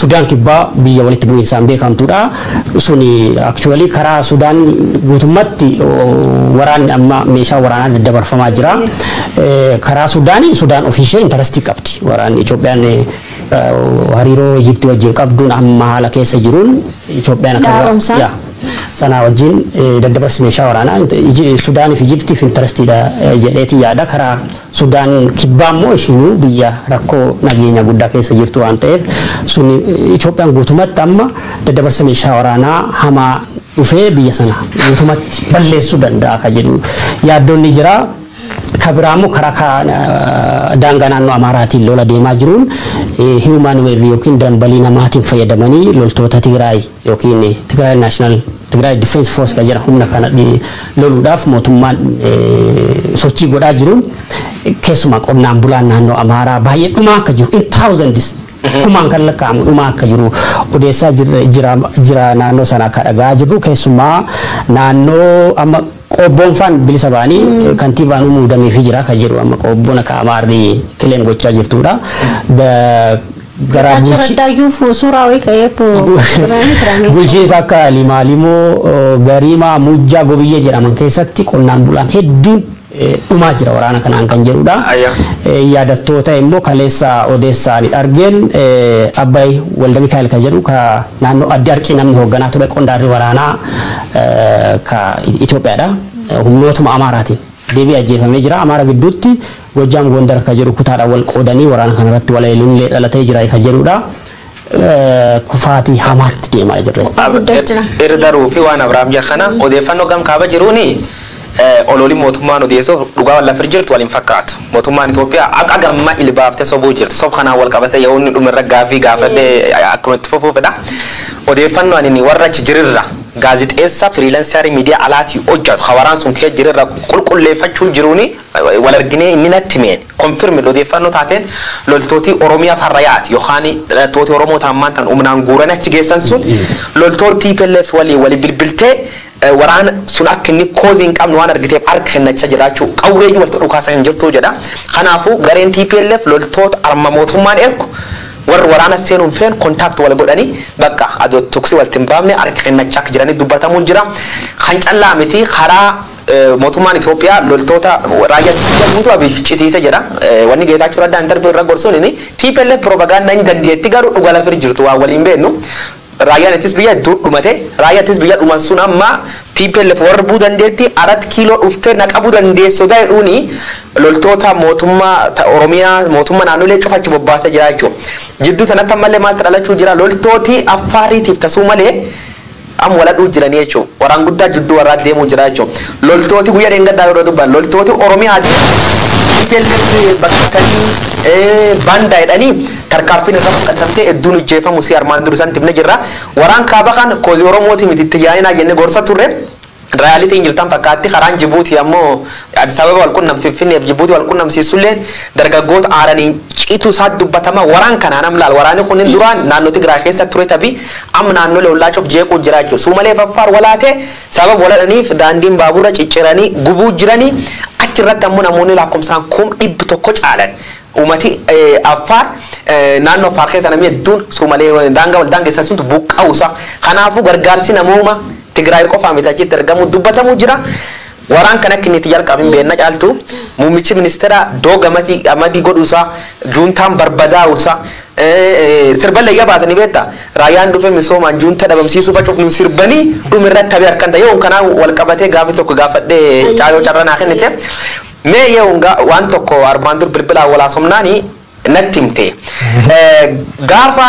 Sudaan kibbaa biyya walitti bu'iinsaan beekamtuudha. suni actually karaa Sudaan guutummatti waraanni amma meeshaa waraanaa daddabarfamaa jira. Karaa Sudaan Sudaan ofiishee intarastii qabdi. Waraanni Itoophiyaan hariiroo Ijiptii wajjin qabduun amma haala keessa jiruun Itoophiyaan akka Dhaaromsaa? yaa, sanaa wajjin daddabarsi meeshaa waraanaa Sudaaniif Ijiptiif intarastiidha jedheeti yaada karaa Sudaan Kibbaa immoo ishiinuu biyya rakkoo nageenyaa guddaa keessa jirtu waan ta'eef sun Itoophiyaan guutumatti amma daddabarsa meeshaa waraanaa hamaa dhufee biyya sana guutumatti balleessuu danda'a kan jedhu yaaddoon ni jira. Ka biraa immoo karaa ka- eh, daangaa naannoo Amaaraatiin lola deemaa jiruun eh, human wave yookiin dambalii namaatiin fayyadamanii loltoota Tigraay yookiin Tigray National Tigray Defense Force kan jedhan humna kana loluudhaaf mootummaan sochii godhaa jiruun keessumaa qonnaan bulaan naannoo Amaaraa baay'ee dhumaa akka jiru in thousands kumaan kan lakkaa'amu dhumaa akka jiru odeessaa jira naannoo sana akka dhagaa jirru keessumaa naannoo amma Qoobboon faan bilisa ba'anii kantiibaa nu muudameefii jira kan jedhu amma qoobboon akka Amaarri kileem gochaa jirtuudha. Garaa Getaachoo bulchi Raddaayyuuf suuraa wayii ka'ee po- Oromiyaanii tiraamee. bulchiinsa akka Limaalimoo, Gariimaa, Mujjaa, Gobiyyee jedhaman keessatti qonnaan bulaan hedduun eh, dhumaa jira waraana kanaan kan jedhudha. Ayya. Eh, Yaadattoota immoo kaleessa odeessaan argeen eh, Abbaay Walda Mikaa'el kan jedhu ka naannoo adda harkii namni hoogganaa ture qondaalli waraanaa ka Itoophiyaa dha. Humnootuma Amaaraatiin deebi'ee ajjeefamee jira. Amaara gidduutti Gojjaam Goondar ka jedhu kutaadhaan wal qoodanii waraana kana irratti wal eeluun illee dhalatee jira ka jedhu dha. Kufaatii hamaatti deemaa jirra. Irdaru fi waan Abrahaam jedhe kana odeeffannoo gam kaaba jiruuni Ololi mootummaan odeessuuf dhugaa lafir jirtu wal hin fakkaatu. Mootummaan Itoophiyaa haqa gamma ilbaafte sobuu jirti. Sob kanaan wal qabatee yoo inni dhumerra gaaffii gaafadhe akkuma itti fufuu fedha. Odeeffannoo anini warra achi jirirra gaazixeessa firiilansarii miidiyaa alaatii hojjatu ka waraan sun kee jirirra qulqulleeffachuu jiruuni wal arginee inni natti himeen confirmed odeeffannoo taateen loltootii Oromiyaaf har'a yaati yookaan hidhattooti Oromoo ta ammaan tan humnaan guuranii achi geessan sun loltoon tplf waliin wali bilbiltee Waraana sun akka inni koozii hin qabne waan argiteef harka kennachaa jiraachuu, qawwee iyyuu walitti dhukaasaa hin jirtu jedha. Kanaafuu gareen tplf loltoota arma mootummaan ergu warri waraana seenuu hin feene contact wal godhanii bakka adoo toksii walitti hin baafne harka kennachaa akka jiranii dubbatamuun jira. Kan callaa miti karaa mootummaan Itoophiyaa loltoota raayyaa ittisa guutuu Abiy ficisiise jedha. Wanni Geetaachoo Raddaa interview irra gorsuun tplf propaganda hin dandeetti garuu dhuga lafa hin jirtu waan wal hin beeknu. Raayyaan ittis biyya heddu dhumate raayya ittis biyya dhuman sun amma tplf warrbuu dandeetti arat kiiloo dhufte na qabu dandeess soda jedhuuni loltoota mootumma ta oromiyaa mootumma naannolee cufa achi bobbaase jira jechuu jidduu sanatti ammalle maaltu dhalachuu jira loltooti affaariitiif ta suumalee am wal hadhuu jiranii jechuu waraan guddaa jidduu warraa deemuu jira jechuu loltooti guyya dheengaddaa yeroo dubban loltooti oromiyaati tplf bakka tanii baandaa jedhanii Tarkaanfiin irra fudhatamtee edduun ijjeefamu si armaan dur isanitti himne jirra. Waraan kaaba kan kozi oromooti miti itti yaainaa jenne gorsa turre. Reality hin jirtan fakkaatti karaan jibuuti ammo Addis Ababa wal qunnam finfinne fi jibuuti wal qunnamsiissulleen dargaggoota aaraniin citu isaat dubbatama. Waraan kanaan am laal waraani kunnin duraan naanno Tigraay keessa ture tabi am naannole ollaa cuf jeequu jira jechu. Suumalee fi Affaar wal haate sababa wal hadhaniif daandiin baaburra cicciranii gubuu jirani. Achi irratti ammo namoonni laakkomsaan kum dhibbi tokko caalan. Uumati Affaar naannoo Affaar keessa namni hedduun Suumalee daangaa wal daangessan suntu buqqa'uu isaa kanaafuu gargaarsi namoomaa Tigraay qofaa miti achitti ergamuu dubbatamuu jira. Waraan kan akka inni itti jalqabe hin beekna caaltu muummichi ministeera doo gamati amadii godhuu isaa juuntaan barbadaa'uu isaa sirballee iyya baasanii beekta raayyaan dhufe misoomaan juunta dhabamsiisuu facuuf nu sirbanii dhumirratti tabe akkan ta'e yoon kanaa wal qabatee gaafi tokko gaafadhee caaloo carra naa kennite Mee Yehuun gaa waan tokko armaan dur bilbilaan wal haasofnaani natti himte. Gaafa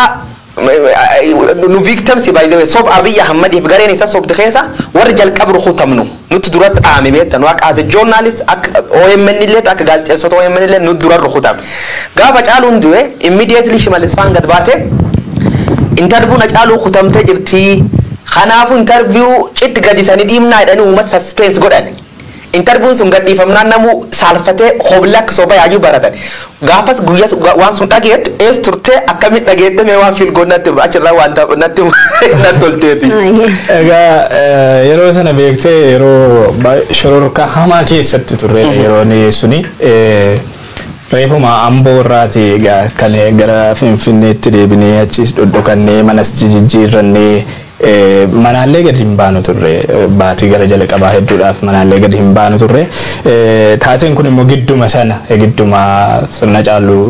nu victims by the way sob Abiy Ahmadiif gareen isa sobde keessa warri jalqab rukutamnu nutti dura dhaame beekta nu akka as a journalist akka OMN illee akka gaazexeessota OMN illee nu dura rukutame. Gaafa caaluun du'e immediately Shimallis faan gad baate interview na caaluu kutamtee jirti. Kanaafuu interview citti gadisanii dhiibnaa jedhanii uummata suspense godhan. Interviewn sun gadhiifamnaan namuu saalfatee hoblee akka soba yaayuu baratan. Gaafas guyyas waan sun dhageettu eess turtee akkamiin dhageette mee waan feel goon natti achirraa waan natti nan tolteefi. Egaa yeroo sana beektee yeroo shororkaa hamaa keessatti turre yeroon suni reefuma amboo irraati egaa kan gara finfinneetti deebinee achiis dhodhokannee manas jijijjiirrannee Manaallee gad hin baanu turre. Baatii gara jalaqabaa hedduudhaaf manaallee gad hin baanu turre. Taateen kun immoo gidduma sana gidduma sirna caaluu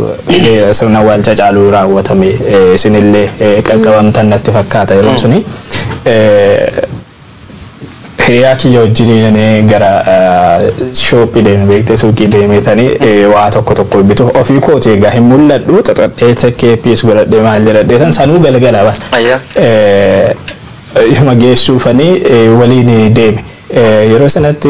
sirna waalcha caaluu raawwatame isinillee qaqqabamtan natti fakkaata yeroon suni. Hiriyaa kiyya wajjini nani gara shoophii deeme beekte suuqii deemeetani waa tokko tokko bitu ofii kooti egaa hin mul'adhu xaxadhee takkee piis godhadhee maal jedhadheetan sanuu galgala bar Ayyaa. yoma geessuufani waliin deeme yeroo sanatti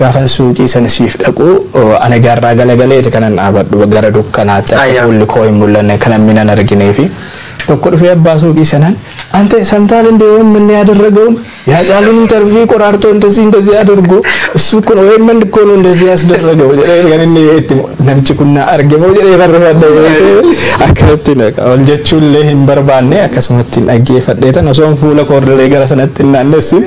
Gaafan suuqii sana siif dhaqu ani garraa galagaleeti kanan dhaabadhu gara dukkanaatti akka fuulli koo hin mul'anne kan namni nan argineefi. Tokko dhufee abbaa suuqii sanaan Ante samtaal indee omn yaadarragaun yaa caaluun intarvii qoraartoo indezii indezii adargoo issuu kun omn ikkoo nu indezii asdarragau jedhee kan inni itti mo namchi kun naa arge moo jedhee kan rifadhe beekee akkanatti naqa ol jechuu illee hin barbaanne akkasumatti hin dhaggeeffadheetan osoon fuula koordalee gara sanatti hin naannessin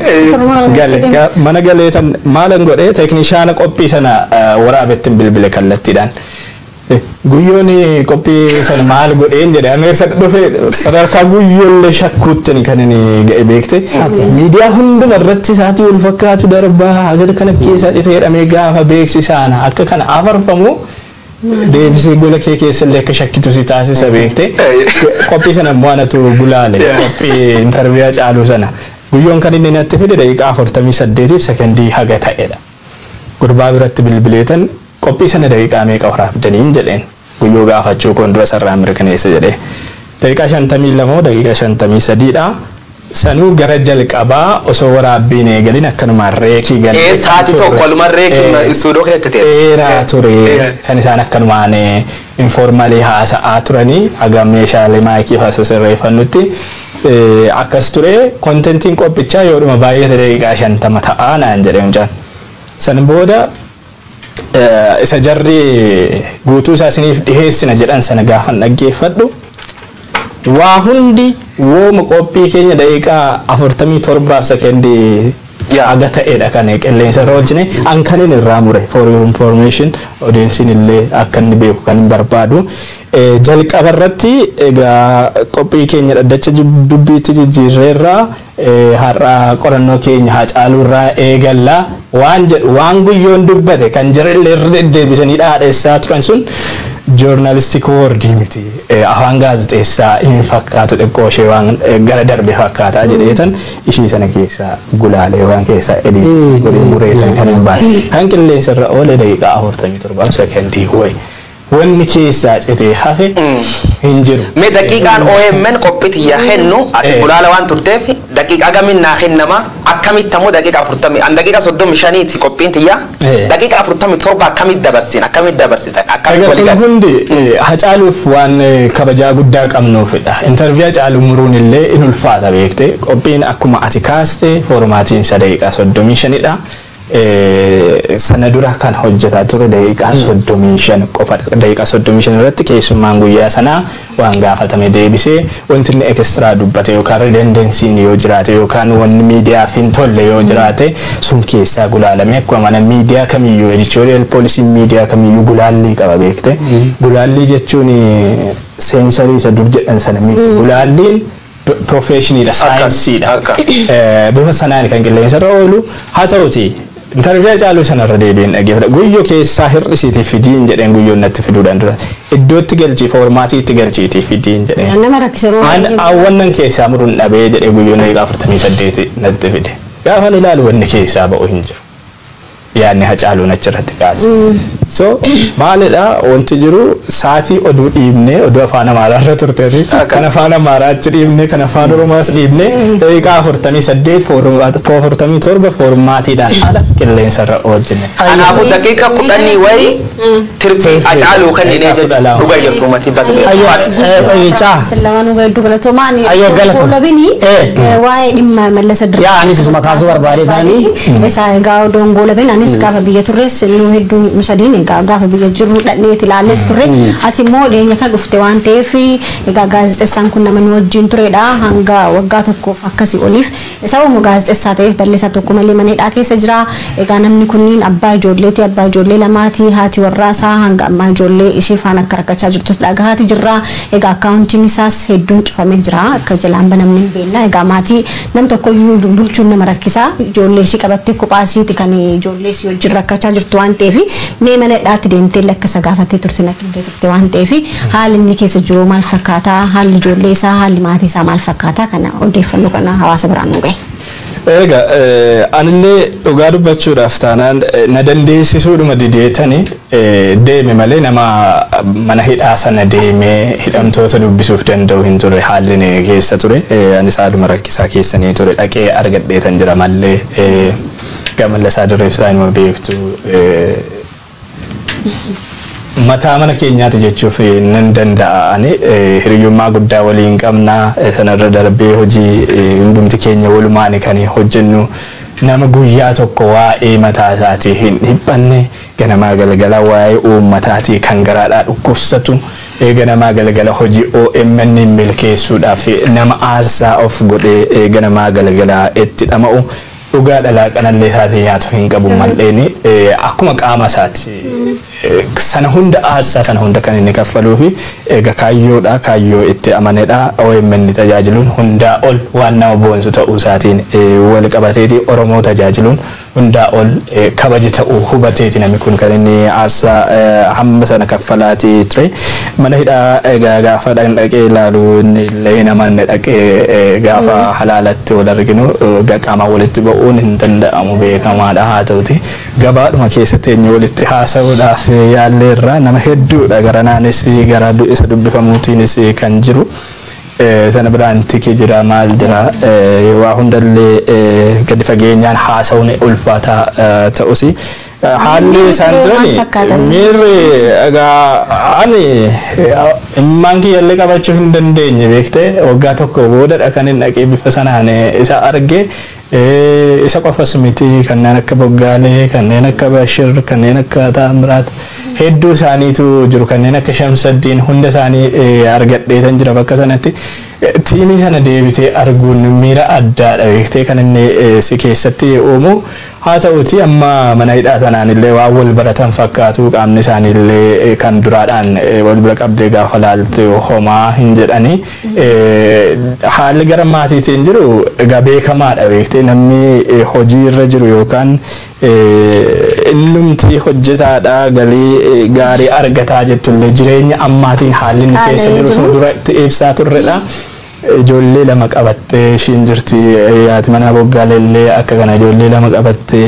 gale mana galeetan Maalan godhe teeknishaana qophii sana waraabettin bilbile kallattiidhaan. Guyyoon qophii sana maal godheen jedhe amma eessa dhufe sadarkaa guyyoollee shakkuuttini kan inni ga'e beekte. Miidiyaa hunduma irratti sa'aatii wal fakkaatu darbaa haga kana keessa dhite jedhamee gaafa beeksisaana akka kana afarfamu deebisee gola kee keessa illee akka shakkitu si taasisa beekte qophii sana immoo anatu gulaale qophii intarviyaa caaluu sana guyyoon kan inni natti fide daqiiqaa afurtamii saddeetiif sekondii haga ta'edha gurbaa biratti bilbileetan qophii sana daqiiqaa meeqa waraabdaniin jedheen guyyoo gaafachuu koon dura sarraa mirkaneessa jedhee daqiiqaa shantamii lama daqiiqaa shantamii sadiidha Sanuu gara jalqabaa osoo waraabbii hin eegalin akkanumaan reekii gadi Ee dhiqan saati tokko turre. waluman reeki Ee, istuudoo keessatti ta'e. dheeraa ture Ee. kan isaan akkanumaan informalii haasa'aa turanii haga meeshaalee maayikii fa'aa sasirreeffannutti eh, akkas ture kontentiin qophichaa yoodhuma baay'ate daqiiqaa shantama ta'a naan jedhe mucaan san booda isa jarri guutuu isaa isiniif dhiheessina jedhan sana gaafan dhaggeeffadhu waa hundi wooma qophii keenya daqiiqaa afurtamii torbaaf sekendii jaaga ta'edha kan qilleensa irra oolchine an kan inni irraa mure for your information odeensiin illee akka inni beeku kan hin barbaadu jalqaba irratti egaa qophii keenya dhaddacha dubbiitti jijjiirreerraa Har'a qorannoo keenya Haacaaluu irraa eegalla. Waan jedhu, waan Guyyoon dubbate, kan jarri illee irra deddeebisanii dhaadhessaa turan sun joornaalistik woordii miti. Afaan gaazexeessaa hin fakkaatu xiqqoo ishee waan gara darbe fakkaata jedheetan ishii sana keessaa gulaalee waan keessaa edii godhee mureetan kan hin baane. Kan qilleensa irra oole daqiiqaa 47 sekondii wayi. Wanni keessaa citee hafe hin jiru. Mee daqiiqaan omn qophii tiyyaa kennu ati Ee. gulaala waan turteef daqiiqa hagamiin naa kennama akkamitti ammoo daqiiqa afurtamii an daqiiqa soddomii shaniiti qophiin tiyyaa Ee. daqiiqa afurtamii torba akkamitti dabarsiin akkamitti dabarsitan akkamitti Egaa walii kun gala hundi eh, Hacaaluuf waan eh, kabajaa guddaa qabnuufidha. Intarviyuu Hacaaluu muruun illee in ulfaata beekte. Qophiin akkuma ati kaaste foormaatiin isa daqiiqaa soddomii shanidha. Sana dura kan hojjetaa ture daqiiqaa 35 qofadha. Daqiiqaa 35 irratti keessummaan guyyaa sanaa waan gaafatame deebisee wanti inni ekistiraa dubbate yookaan ridendensiin yoo jiraate yookaan wanni miidiyaaf hin tolle yoo jiraate sun keessaa gulaalamee akkuma mana miidiyaa kamiyyuu editorial poolisiin miidiyaa kamiyyuu gulaallii qaba beekte. Gulaallii jechuun seensarii isa dur jedhan sana miti. Gulaalliin piroofeeshiniidha, saayinsiidha. Bifa sanaan kan qilleensarra oolu. Haa ta'uutii intarviyu Hacaaluu sanarra deebiin dhaggeeffadha. Guyyo keessaa hir'isiitii fidiin jedheen guyyoon natti fiduudhaan dura. Iddootti galchii foormaatii itti galchiitii fidiin jedheen. Nama rakkisa yeroo An baay'ee. awwannan keessaa muruun dhabee jedhee guyyoon daqiiqaa 48 natti fide. Gaafan ilaalu wanni keessaa ba'u hin jiru. yaadni Hacaaluun achirratti kaase. So maalidha wanti jiru saatii oduu dhiibnee oduu afaan Amaaraarra turte ati kan afaan Amaaraa achi dhiibnee kan afaan Oromaas dhiibnee daqiiqaa afurtamii saddeet afurtamii torba foormaatiidhaan ala qilleensarra oolchine. Kanaafuu daqiiqa kudhanii wayii tirfii acaaluu kenninee jechuun dhuga jirtu umatii baga Caa. Sallama nu gaiddu galatoomaa ani Ayya, galatoomaa. labini Eh. waa'ee dhimma mallasa dirree. Yaa, anis isuma kaasuu barbaadee taanii. Isaa egaa odoon goolabeen anis gaafa biyya turres nu hedduu nu sadiin egaa gaafa biyya jirru dhadheeti ilaalleeti turre ati immoo dhiyeenya kan dhufte waan ta'eef egaa gaazexessaan kun nama nu wajjin turedha hanga waggaa tokkoof akkasii oliif Sababa immoo gaazexessaa ta'eef Balleessaa tokko malee mana hidhaa keessa jira. Egaa namni kunniin abbaa ijoolleeti, abbaa ijoollee lamaati. Haati warraa isaa hanga ammaa ijoollee ishee faana akka rakkachaa jirtus dhagahaati jirra. Egaa akkaawuntiin isaas hedduun cufamee jira. Akka jalaan banamne hin beekna. Egaa maatii nam tokko iyyuu bulchuun nama rakkisa. Ijoollee ishii qabattee kophaa ishiiti kan ijoollee ishii wajjin rakkachaa jirtu waan ta'eef mee mana hidhaatti deemtee illee akka isa gaafattee turte natti himtee turte. turte waan ta'eef haalli inni keessa jiru maal fakkaata haalli ijoollee isaa haalli maatii isaa maal fakkaata kana odeeffannoo kana hawaasa biraan nu gahe. Eega anillee dhugaa dubbachuudhaaf taanaan na dandeessisuudhuma dideetani deeme malee nama mana hidhaa sana deemee hidhamtoota dubbisuuf danda'u hin turre haalli inni keessa ture anis haaluma rakkisaa keessanii ture dhaqee argadheetan jira malee gamalla isaa dureef isaa inuma beektu Mataa mana keenyaati jechuuf nan danda'a ani. Hiriyyummaa guddaa waliin qabna. Sanarra darbee hojii hundumti keenya walumaani kan hojjennu. Nama guyyaa tokko waa'ee mataa isaatii hin dhiphanne, ganamaa galgala waa'ee uummataatii kan garaadhaa dhukkubsatu, ganamaa galgala hojii omn milkeessuudhaaf nama aarsaa of godhee ganamaa galgala itti dhama'u, Dhugaa dhalaa qanallee taatee nyaatu hin qabu mal'eeni akkuma qaama isaati. Sana hunda aarsaa sana hunda kan inni kaffaluu fi eega kaayyoodha kaayyoo itti amanedha OMN tajaajiluun hundaa ol waan nama boonsu ta'uu isaatiin wal qabateeti Oromoo tajaajiluun hundaa ol kabaja ta'uu hubateeti namni kun kan inni aarsaa hamma sana kaffalaati ture. Mana hidhaa egaa gaafa dhaqn dhaqee ilaalu inni illee hin amanne dhaqee gaafa halaalatti wal arginu egaa qaamaan walitti ba'uun hin danda'amu beekamaadha haa ta'uti gabaadhuma keessa teenye walitti haasa'uudhaaf yaallee irraa nama hedduudha garanaanis gara du- isa dubbifamuutiinis kan jiru. Eh, sana biraan tikee jira maal jira eh, waa hundallee eh, gadi fageenyaan haasa'uun ulfaataa eh, ta'usi Haalli Miirri isaan turee maal turani fakkaata? miirri egaa ani immaan kiyyallee qabachuu hin dandeenye beektee waggaa tokko boodadha kan hin dhaqee bifa sanaan isa arge eh, isa qofas miti kanneen akka boggaalee kanneen akka bashir kanneen akka taamiraat hedduu isaaniitu jiru kanneen akka shamsaddiin hunda isaanii eh, argadheetan jira bakka sanatti Eh, tiimii sana deebitee arguun miira addaadha beektee kan inni eh, si keessatti uumu Haata'uutii amma mana hidhaa sanaanillee waan wal baratan fakkaatu, qaamni isaaniillee kan duraadhaan wal bira qabdee gaafa laaltu homaa hin jedhani. Haalli gara maatiitiin jiru egaa beekamaadha beektee namni hojii irra jiru yookaan innumti hojjetaadha galii gaarii argataa jettullee jireenya ammaatiin haalli inni keessa jiru sun duratti ibsaa turredha. Ijoollee lama qabattee ishiin jirti. Haati manaa Boggaale illee akka kana ijoollee lama qabatte.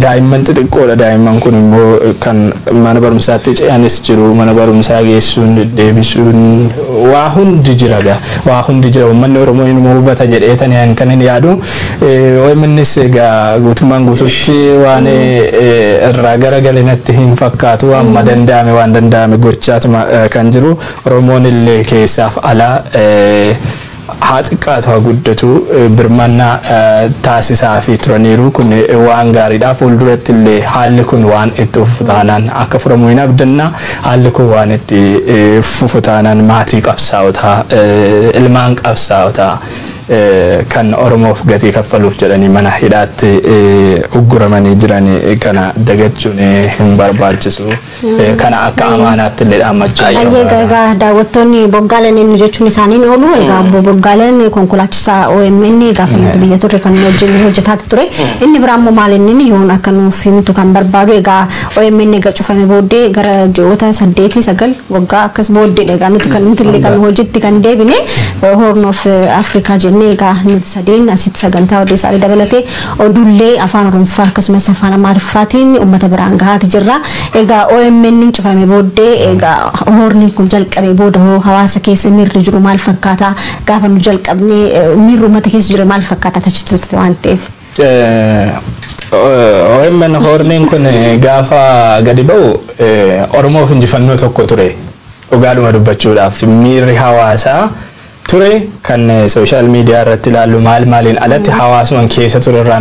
Daa'imman xixiqqoodha. Daa'imman kun immoo kan mana barumsaatti ce'anis jiru. Mana barumsaa geessuun, deddeebisuun waa hundi jira egaa. Waa hundi jira. Uummanni Oromoo inuma hubata jedheetani kan hin yaadu. OMNs egaa guutummaan guutuutti waan irraa garagale natti hin fakkaatu. Amma danda'ame waan danda'ame gochaatuma kan jiru. Oromoon illee keessaaf alaa haa xiqqaatu haa guddatu birmannaa taasisaafii turaniiru. Kun waan gaariidha. Fuulduratti illee haalli kun waan itti fufu taanaan akka furamu hin abdanna. Haalli kun waan itti fufu taanaan maatii qabsaa'otaa, ilmaan qabsaa'otaa kan Oromoof gatii kaffaluuf jedhanii mana hidhaatti ugguramanii jiran kana dagachuun hin barbaachisu. Eh, kana akka amaanaatti illee dhaammachuu Ayyee Ayyee barbaada. egaa daawwattoonni boggaaleen eenyu jechuun isaaniin oolu egaa obbo boggaaleen konkolaachisaa OMN gaafa nuti biyya turre kan inni wajjin hojjetaa ture inni biraa immoo maal inni yoon akka nuuf himtu kan barbaadu egaa OMN egaa cufame booddee gara ji'oota saddeetii sagal waggaa akkas booddeedha egaa nuti kan nuti illee kan hojiitti kan deebine Horn of Africa jennee egaa nuti sadeen asitti sagantaa odeessaalee dabalatee Oduullee Afaan Oromffaa akkasumas Afaan Amaariffaatiin ummata biraan gahaati jirra. Egaa OMN'n cufame booddee egaa hoorniin kun jalqabee booda hoo hawaasa keessa miirri jiru maal fakkaata? Gaafa nu jalqabne miirri ummata keessa jire maal fakkaata? Ati achi turte waan ta'eef. OMN hoorniin kun gaafa gadi ba'u Oromoof injifannoo tokko ture. Dhugaadhuma dubbachuudhaaf miirri hawaasaa ture kan social media irratti ilaallu maal maaliin alatti hawaasuman keessa ture irraa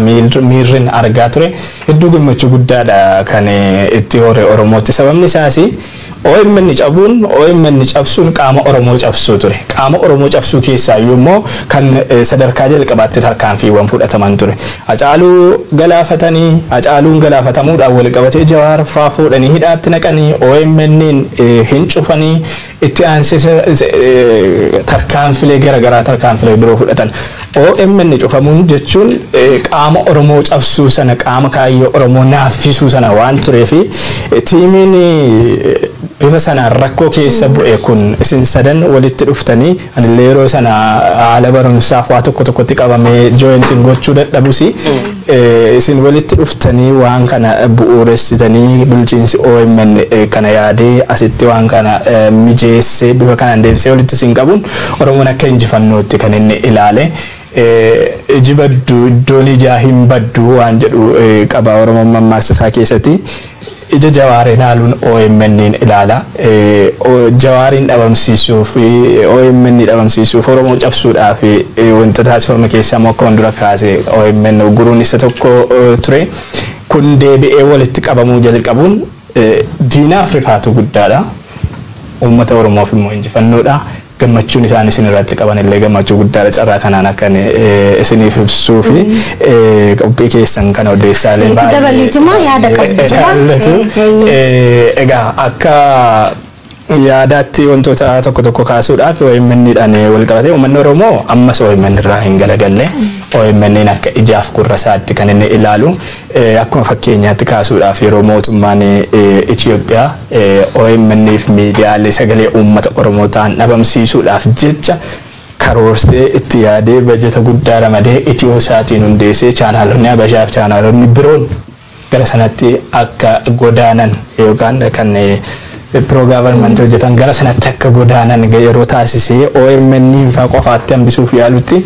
miirrin argaa ture hedduu gammachuu guddaadha kan itti hore oromootti sababni isaas OMN cabuun OMN cabsuun qaama oromoo cabsuu ture qaama oromoo cabsuu keessaa iyyuu immoo kan sadarkaa jalqabaatti tarkaanfiiwwan fudhataman ture acaaluu galaafatanii acaaluun galaafatamuudhaan wal qabatee jawaar faa fuudhanii hidhaatti naqanii OMN hin cufanii Itti aansees tarkaanfilee gara garaa tarkaanfilee biroo fudhatan. Omn cufamuun jechuun qaama Oromoo cabsuu sana qaama kaayyoo Oromoo naaffisuu sana waan tureef tiimiin bifa sanaan rakkoo keessa bu'e kun isin sadan walitti dhuftanii Anillee yeroo sana haala barumsaaf waa tokko tokkotti qabamee join isin gochuu dadhabus isin walitti dhuftanii waan kana bu'uuressitanii bulchiinsi OMN kana yaadee asitti waan kana mijeessee bifa kanaan deebisee walitti isin qabuun Oromoon akka injifannootti kan inni ilaale. Iji baddu iddoon ijaa hin baddu waan jedhu qaba Oromoon mammaaksa isaa keessati. Ija Jawaar ilaaluun OMNn ilaala. Jawaariin dhabamsiisuuf, omn dhabamsiisuuf, Oromoo cabsuudhaaf wanta taasifame keessaa immoo akkuman dura kaase omn ugguruun isa tokko ture. Kun deebi'ee walitti qabamuu jalqabuun diinaaf rifaatuu guddaadha. Uummata Oromoof immoo injifannoodha. gammachuun isaan isin irratti qaban illee gammachuu guddaadha carraa kanaan akkan isiniif ibsuu fi qophii keessan kana odeessaalee Itti baay'ee- dabaliituma yaada qabdu baay'ee jira. ilaallatu. Eh, eh, Eh, Egaa akka yaadaatti wantoota tokko tokko kaasuudhaaf OMN dhaan wal qabatee uummanni Oromoo ammas OMN irraa hin galagalle OMN akka ijaaf gurra isaatti kan inni ilaalu Akkuma fakkeenyaatti kaasuudhaaf yeroo mootummaan Itiyoophiyaa omn fi miidiyaalee sagalee uummata Oromoo ta'an dhabamsiisuudhaaf jecha karoorsee itti yaadee bajata guddaa ramadee Itiyoo-saatiin hundeessee chaanaalonni Habashaa fi chaanaalonni biroon gara sanatti akka godaanan yookaan kan pro-government hojjetan gara sanatti akka godaanan yeroo taasisee omn faa qofaatti hambisuuf yaalutti